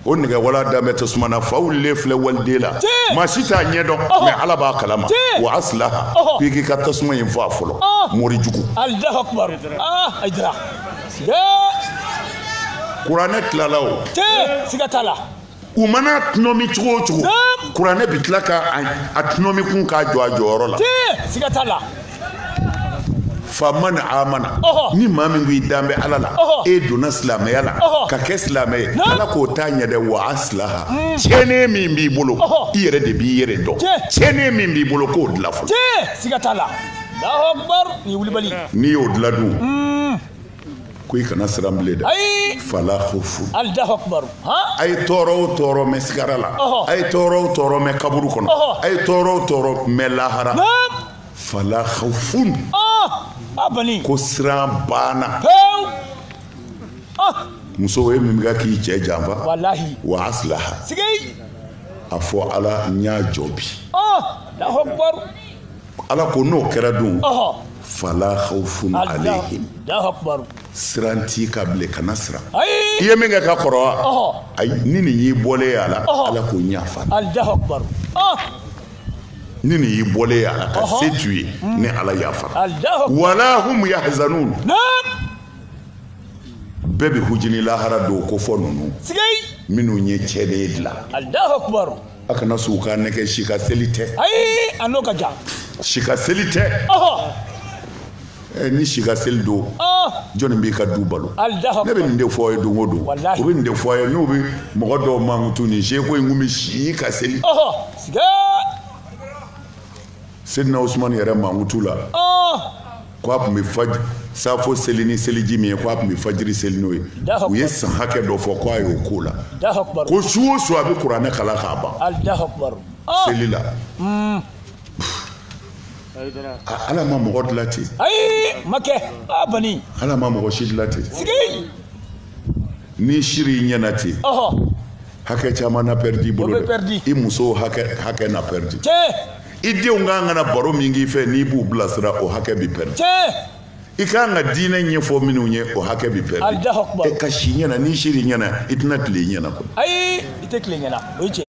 o nɛgɛwala dan bɛ tasuma na fa wulilen filɛ waliden la maa si t'a ɲɛ dɔn mɛ ala b'a kalama wa aslaha k'i k'i ka tasuma in faga fɔlɔ mori jugu kuranɛ tilala o siga t'a la u mana tɔnɔmi cogo o cogo kuranɛ bi tila ka a tɔnɔmi kun k'a jɔ a jɔyɔrɔ la siga t'a la faman amana ni maa min ko i dan bɛ ala la e donna silamɛya la ka kɛ silamɛ ye ala k'o t'a ɲɛ dɛ wa aslaha hmm. tiɲɛnen min b'i bolo i yɛrɛ de b'i yɛrɛ dɔn tiɲɛnen min b'i bolo k'o dilan fɔlɔ siga t'a la ni wulibali n'i y'o dilan dun hmm. ko i kana siran bilen dɛ ayi fala khawfun allahu akbar ha a ye tɔɔrɔ o tɔɔrɔ mɛn sigara la a ye tɔɔrɔ o tɔɔrɔ mɛn kaburu kɔnɔ a ye tɔɔrɔ o tɔɔrɔ mɛn lahara fala khawfun ah abani ko siran bana pew ah muso ye min bɛ k'i cɛ janfa walahi wa aslaha sigi a fɔ ala n y'a jɔ bi allahu akbar ala ko n'o kɛra dun ɔhɔ fala khawfun alayhim allahu akbar siran t'i kan bilen kana siran ayi i ye min kɛ ka kɔrɔ wa ɔhɔ ayi ni ne y'i bɔlen ye a la Ɔhɔ. ala k'o yafara allahu akbar ah ni ne y'i bɔlen ye a la kasi t'u ye ni ala yafara wala hum yahzanun bɛɛ bɛ hujini lahara don ko fɔ ninnu minnu ye tiɲɛnen dilan a kana sɔn ka nɛgɛn si ka seli tɛ ayi a n'o ka jan si ka seli tɛ ni si ka seli don jɔnni b'i ka du balo ne bɛ nin de fɔ ye don o don u bɛ nin de fɔ ye n'u bɛ mɔgɔ dɔw mankutu nin seku in tun bɛ si ka seli seyidina osumani yɛrɛ mankutu la k' a tun bɛ safo seli ni seliji min ye k' a tun bɛ fajiri seli n'o ye u ye san hakɛ dɔ fɔ k' a y'o ko la ko su o su a bɛ kuranɛ kalan k'a ban seli la ala ma mɔgɔ dila ten ayi ma kɛ a bani ala ma mɔgɔ si dila ten sigi n'i sir'i ɲɛna ten hakɛ caman na pɛridi i bolo dɛ i musow hakɛ na pɛridi i denw ka kan ka na baro min k'i fɛ n'i b'u bilasira o hakɛ bi pɛridi i ka kan ka diinɛ ɲɛfɔ minnu ye o hakɛ bi pɛridi e ka si ɲɛna n'i sir'i ɲɛna i tɛna tile i ɲɛna koyi ayi i tɛ tile ɲɛna o ye tiɲɛ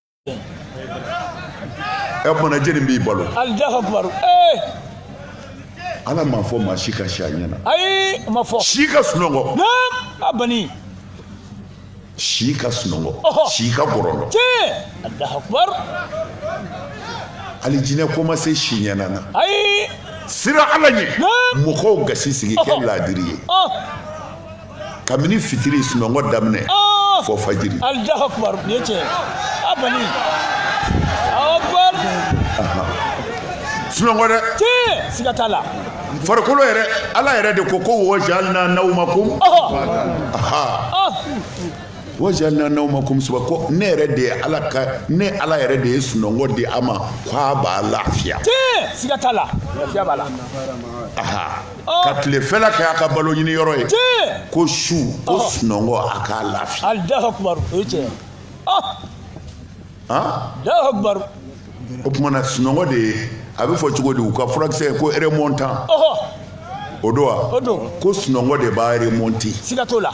ɛ o kumana jɛni b'i balo alahu akubaru ee ala m'a fɔ maa si ka si a ɲɛ na ayi a m'a fɔ si ka sunɔgɔ naam a bani si ka sunɔgɔ Ɔhɔ. si ka gɔrɔndɔ tiɲɛ alahu akubaru alijinɛ ko ma se si ɲɛna na ayi siran ala ɲɛ Naam. mɔgɔw gasi sigi kɛ Ɔhɔ. laadiri ye ɔ kabini fitiri sunɔgɔ daminɛ ah! fo fajiri alahu akubar nin ye tiɲɛ a bani akubar sunɔgɔ dɛ tiɲɛ siga t'a la farikolo yɛrɛ ala yɛrɛ de ko ko wajalna nawmakum wajalna nawmakum suba ko ne yɛrɛ de ye ala ko ne ala yɛrɛ de ye sunɔgɔ di a ma k'a b'a lafiya tiɲɛ siga t'a la lafiya b'a la oh. ka tilefɛla kɛ a ka balo ɲini yɔrɔ ye ko su ko oh. sunɔgɔ a k'a lafiya o tumana sunɔgɔ de ye a bɛ fɔ cogo di u ka furakisɛ ko remontant o don wa ko sunɔgɔ de b'a remonter siga t'o la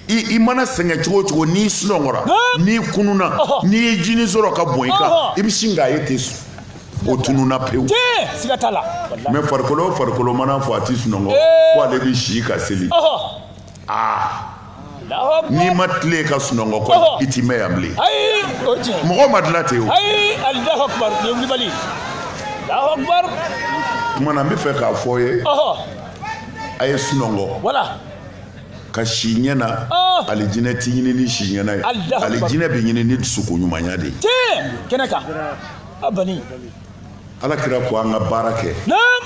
i mana sɛgɛn cogo o cogo n'i sunɔgɔra n'i kununa n'i ye jinin sɔrɔ ka bɔn i kan i bɛ sin k'a ye ten su o tununna pewu mɛ farikolo farikolo mana fɔ a tɛ sunɔgɔ ko ale bɛ si ka seli aa n'i ma tile ka sunɔgɔ kɔ i ti mɛn yan bilen mɔgɔ ma dilan ten o kumana n bɛ fɛ k'a fɔ a ye a ye sunɔgɔ ka si ɲɛ na oh! alijinɛ tɛ ɲini ni si ɲɛna ye alijinɛ bɛ ɲini ni dusukun ɲumanya de ye kɛnɛ kan a bani ala kira ko an ka baara kɛ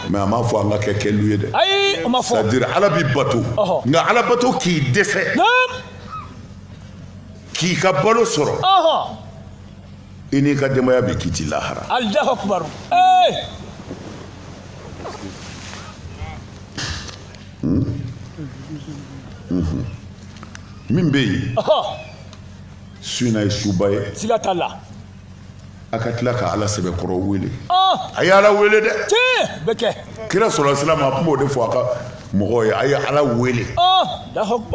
mɛ a m'a fɔ an ka kɛ kɛlu ye dɛ ayi o ma fɔ c'est-à-dire ala bi bato nka ala bato k'i dɛsɛ k'i ka balo sɔrɔ i n'i ka denbaya bɛɛ k'i ti lahara alahu akubaru ee min bɛ yen su in na ye suba ye siga t'a la a ka tila ka ala sɛbɛkɔrɔ wele a ye ala wele dɛ tiɲɛ bɛ kɛ kira sɔlasilama a tun b'o de fɔ a ka mɔgɔw ye a ye ala wele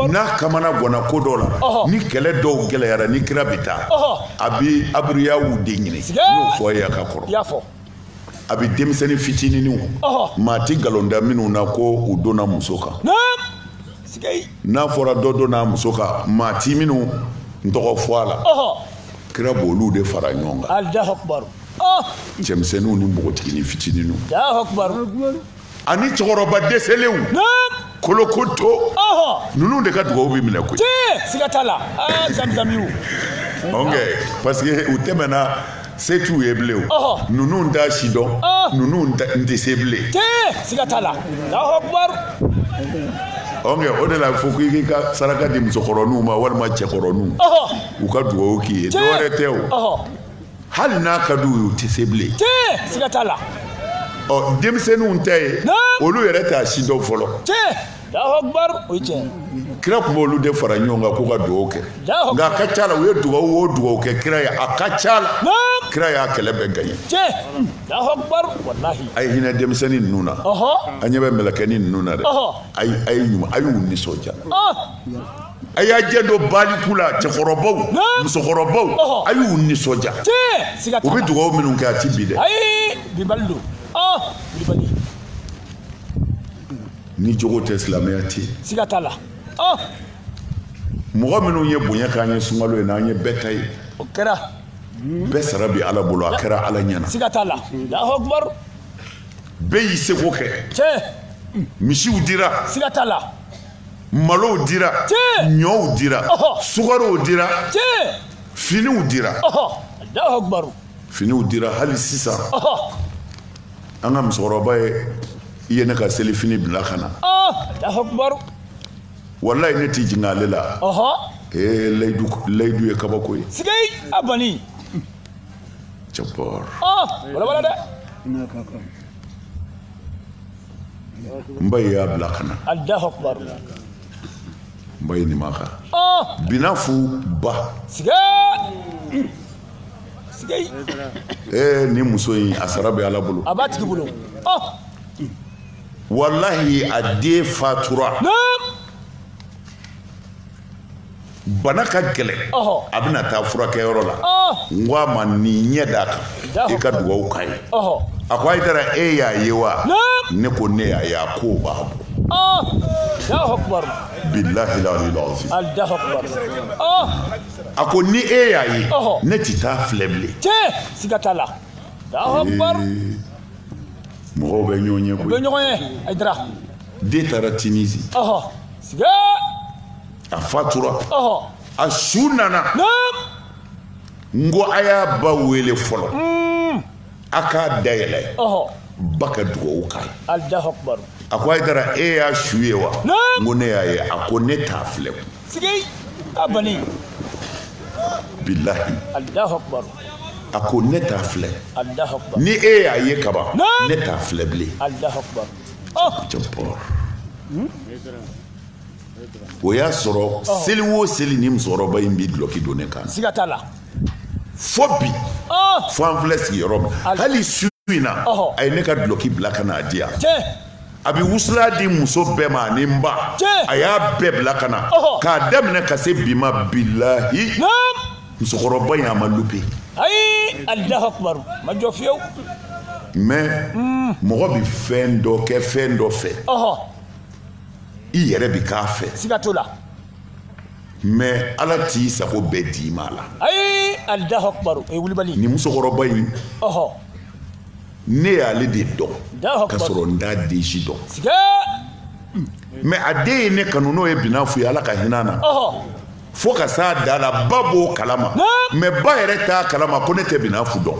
n'a kamana ganna ko dɔ la ni kɛlɛ dɔw gɛlɛyara ni kira bɛ taa a bɛ abiriyaw de ɲini n'o fɔ a ye a ka kɔrɔ a bɛ denmisɛnnin fitininw maa ti nkalon da minnu na ko u donna muso kan n'a fɔra dɔ donna muso kan maa ti minnu tɔgɔ fɔ a la kira b'olu de fara ɲɔgɔn kan cɛmisɛnninw ni npogotiginin fitininw ani cɛkɔrɔba dɛsɛlenw kolokoto ninnu de ka dugawu bɛ minɛ koyi siga t'a la zamzamiw ok parce que u tɛmɛna se t'u ye bilen o ninnu t'a si dɔn ninnu tɛ se bilen siga t'a la ok o de la fo ko i k'i ka saraka di musokɔrɔninw ma walima cɛkɔrɔninw u ka dugawu k'i ye dɔwɛrɛ tɛ o hali n'a ka di u ye u tɛ se bilen siga t'a la ɔ denmisɛnninw ta ye olu yɛrɛ t'a si dɔn fɔlɔ kira tun b'olu de fara ɲɔgɔn kan k'u ka dugawu kɛ nka a ka ca la u ye dugawu o dugawu kɛ kira ye a ka ca la kira y'a kɛlɛ bɛɛ gaɲɛ a ye hinɛ denmisɛnnin ninnu na an ɲɛ bɛ mɛlɛkɛnin ninnu na dɛ a ye ɲuman a y'u nisɔndiya a y'a janto baliku la cɛkɔrɔbaw musokɔrɔbaw a y'u nisɔndiya u bɛ dugawu minnu kɛ a ti bin dɛ ni jogo tɛ silamɛya tɛ siga t'a la mɔgɔ minnu ye bonya k'an ye sunkalo ye n'an ye bɛɛ ta ye o kɛra bɛɛ sara bi ala bolo a kɛra ala ɲɛna siga t'a la alahu akibaru bɛɛ y'i seko kɛ misiw dira siga t'a la malow dira ɲɔw dira sukarow dira finiw dira finiw dira hali sisan an ka musokɔrɔba ye i ye ne ka selifini bila ka na walayi ne t'i jigin ale la ee layidu layidu ye kabako ye sigei a bani jabɔr balabala dɛ n ba ye y'a bila ka na alahu akibaru n ba ye nin makan binafu ba siga siga ee nin muso in a sara bɛ ala bolo a b'a tigi bolo walahi a den fatura bana ka gɛlɛn a bɛna taa furakɛyɔrɔ la n ko a ma ne ɲɛ d'a kan i ka dugawu k'a ye a ko hayidara e y'a ye wa ne ko ne y'a ye a ko b'a bɔ bilahi a ko ni e y'a ye ne tɛ taa filɛ bilen siga t'a la mɔgɔw bɛ ɲɔgɔn ye koyi u bɛ ɲɔgɔn ye a dira den taara tinizi a fatura a su nana n ko a y'a ba wele fɔlɔ hmm. a k'a dayɛlɛ ba ka dugawu k'a ye a ko ayidara e y'a su ye wa n ko ne y'a ye a ko ne t'a filɛ bilahi a ko ne t'a filɛ ni e y'a ye kaban ne t'a filɛ bilen o y'a sɔrɔ seli o seli ni musokɔrɔba in bɛ dulɔki don ne kan siga t'a la fo bi fo an filɛ sigiyɔrɔ min hali su in na a ye ne ka dulɔki bila ka n'a di yan a bɛ wusulan di muso bɛɛ ma ani n ba a y'a bɛɛ bila ka na k'a daminɛ ka se bi ma bilahi musokɔrɔba in a ma lupe ayi alahu akubar ma jɔ fiyewu mais hmm. mɔgɔ bɛ fɛn dɔ kɛ fɛn dɔ fɛ i yɛrɛ bɛ k'a fɛ siga t'o la mais ala t'i sago bɛɛ d'i ma a la ayi alahu akubar o ye wulibali nin musokɔrɔba in ne y'ale de dɔn ka sɔrɔ n t'a den si dɔn mais a den ye ne kanu n'o ye binafu ye ala ka hinɛ na fo ka s'a dan na ba b'o kalama mais ba yɛrɛ t'a kalama ko ne tɛ binafu dɔn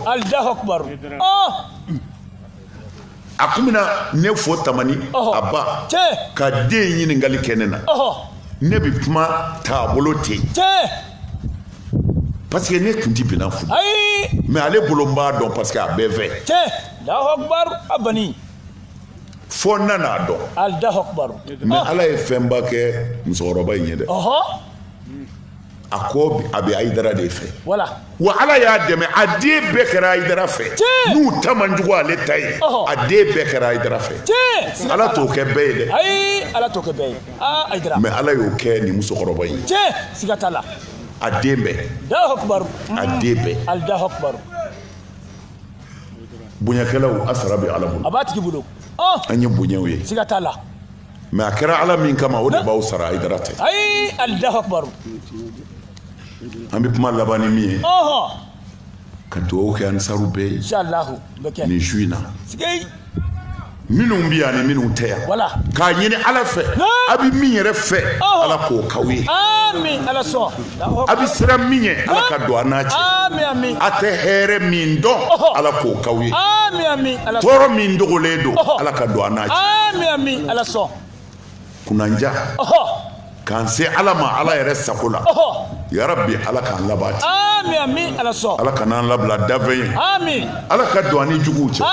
oh! a kun bɛ na ne fo tamani a b'a ka den ɲininkali kɛ ne na ne bɛ kuma taabolo ten parce que ne tun tɛ binafu dɔn mais ale bolo n b'a dɔn parce que a bɛɛ fɛ fo n nan'a dɔn allahu akbar mais ala ye fɛnba kɛ musokɔrɔba in ye dɛ a ko a bɛ ayidara de fɛ wa ala y'a dɛmɛ a den bɛɛ kɛra ayidara fɛ n'u ta man jugu ale ta ye a den bɛɛ kɛra ayidara fɛ ala t'o kɛ bɛɛ ye dɛ ala t'o kɛ bɛɛ ye mais ala y'o kɛ nin musokɔrɔba in ye siga t'a la a den bɛɛ a den bɛɛ bonyakɛlaw a sara bɛ ala bolo a b'a tigi bolo an ye bonyaw ye siga t'a la mais a kɛra ala min kama o de b'aw sara ayidara tɛ ayi alahu akubaru an bɛ kuma laban ni min ye ka dugawu kɛ ansaru bɛɛ ye nin su in na minnu bɛ yan ni minnu tɛ yan k'a ɲini ala fɛ a bɛ min yɛrɛ fɛ ala k'o k'aw ye a bɛ siran min ɲɛ ala ka don a n'a cɛ a tɛ hɛrɛ min dɔn ala k'o k'aw ye tɔɔrɔ min dogolen don ala ka don a n'a cɛ kunanjan k'an se ala ma ala yɛrɛ sago la ya rabbi ala k'an labati ala kana an labila danfɛn ye ala ka don an ni juguw cɛ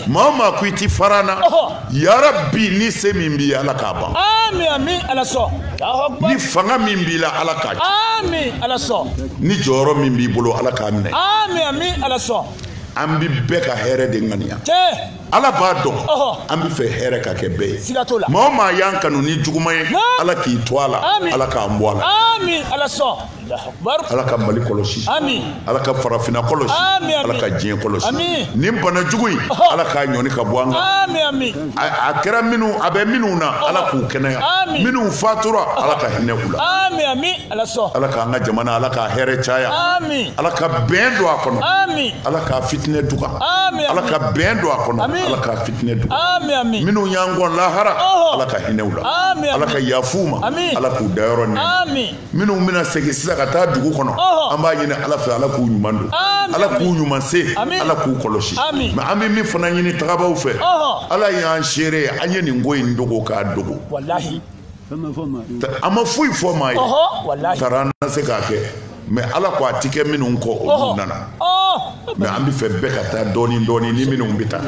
maa o maa ko i tɛ fara an na ya rabbi ni se min b'i ye ala k'a ban ni fanga min b'i la ala k'a ci ni jɔyɔrɔ min b'i bolo ala k'a minɛ an bɛ bɛɛ ka hɛrɛ de ŋaniya ala b'a dɔn an bɛ fɛ hɛrɛ ka kɛ bɛɛ ye maa o maa y'an kanu ni juguman ye ala k'i to a la ala k'an bɔ a la ala ka mali kɔlɔsi ala ka farafinna kɔlɔsi ala ka diɲɛ kɔlɔsi nin bana jugu in ala k'a ɲɔni ka bɔ an kan a kɛra minnu a bɛ minnu na ala k'u kɛnɛya minnu fatura ala ka hinɛ u la ala sɔn ala k'an ka jamana ala k'a hɛrɛ caya amin ala ka bɛn don a kɔnɔ amin ala k'a fitinɛ duga amin ala ka bɛn don a kɔnɔ ala k'a fitinɛ duga amin amin minnu y'an kɔn lahara ala ka hinɛ u la amin ala ka yafa u ma ala k'u dayɔrɔ nɛɛma amin minnu bɛna segin sisan ka taa dugu kɔnɔ an b'a ɲini ala fɛ ala k'u ɲuman don ala k'u ɲuman se ala k'u kɔlɔsi mɛ an bɛ min fana ɲini tagabaw fɛ ala y'an seere ye an ye nin ko in dogo k'a dogo an ma foyi fɔ maa ye taara an na se k'a kɛ mɛ ala ko a ti kɛ minnu kɔ olu nana mɛ an bɛ fɛ bɛɛ ka taa dɔɔni dɔɔni ni minnu bɛ taa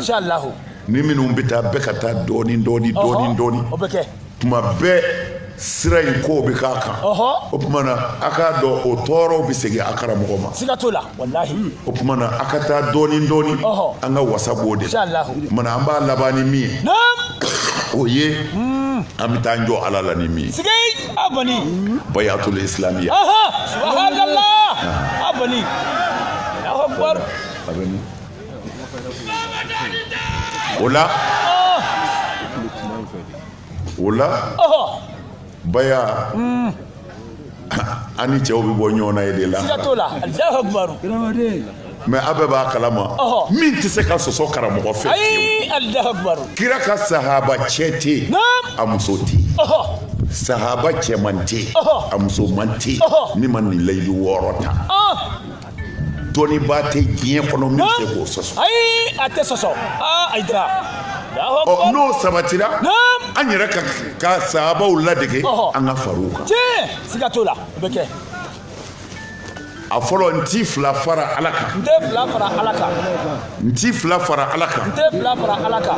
ni minnu bɛ taa bɛɛ ka taa dɔɔni dɔɔni dɔɔni dɔɔni tuma bɛɛ sira in kow bɛ k'a kan o tuma na a k'a dɔn o tɔɔrɔw bɛ segin a karamɔgɔ ma o tuma na a ka taa dɔɔnin dɔɔnin an ka wasa b'o de la o tuma na an b'a laban ni min ye o ye hmm. an bɛ taa jɔ ala la ni min ye bayatul islamiya o la o la baya hmm. an ni cɛw bɛ bɔ ɲɔgɔn na ye de la mɛ a bɛɛ b'a kalama min tɛ se ka sɔsɔ karamɔgɔ fɛ kira ka sahaba cɛ tɛ yen a muso tɛ yen sahaba cɛman tɛ yen a musoman tɛ yen min ma nin layidu wɔɔrɔ ta dɔnnibaa tɛ diɲɛ kɔnɔ min bɛ se k'o sɔsɔ. ayi a tɛ sɔsɔ aa ayidara. ɔ n'o sabatira an yɛrɛ ka sahabaw ladege an ka far'u kan. tiɲɛ siga t'o la o bɛ kɛ. a fɔlɔ n ti fila fara ala kan. n tɛ fila fara ala kan. n ti fila fara ala kan. n tɛ fila fara ala kan.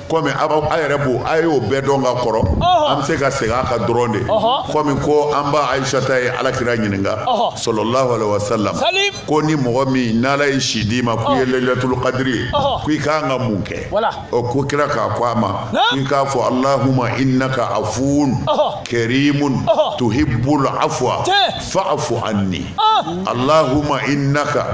komi a yɛrɛ b'o a y'o bɛɛ dɔn ka kɔrɔ an bɛ se ka segin a kan dɔrɔn de komi ko an ba ayisata ye ala kira ɲininka sɔlɔlahu alayhi wa salam ko ni mɔgɔ min n'ala ye si d'i ma k'i ye layilatul kadiri ye k'i kan ka mun kɛ o ko kira k'a fɔ a ma k'i k'a fɔ alahuma innaka afuun karimun tuhibbul afwa fa'fu anni alahuma innaka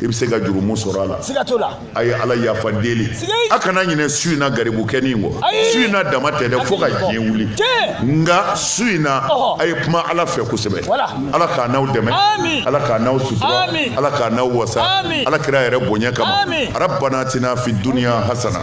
i bɛ se ka jurumu sɔrɔ a la siga t'o la a ye ala yafa deli a kana ɲinɛ su in na garibukɛnin kɔ su in na dama tɛ dɛ fo ka diɲɛ wuli nka su in na a ye kuma ala fɛ kosɛbɛ ala k'an n'aw dɛmɛ ala k'an n'aw sutura ala k'an n'aw wasa ala kira yɛrɛ bonya kama rabana atina fi duniya hasana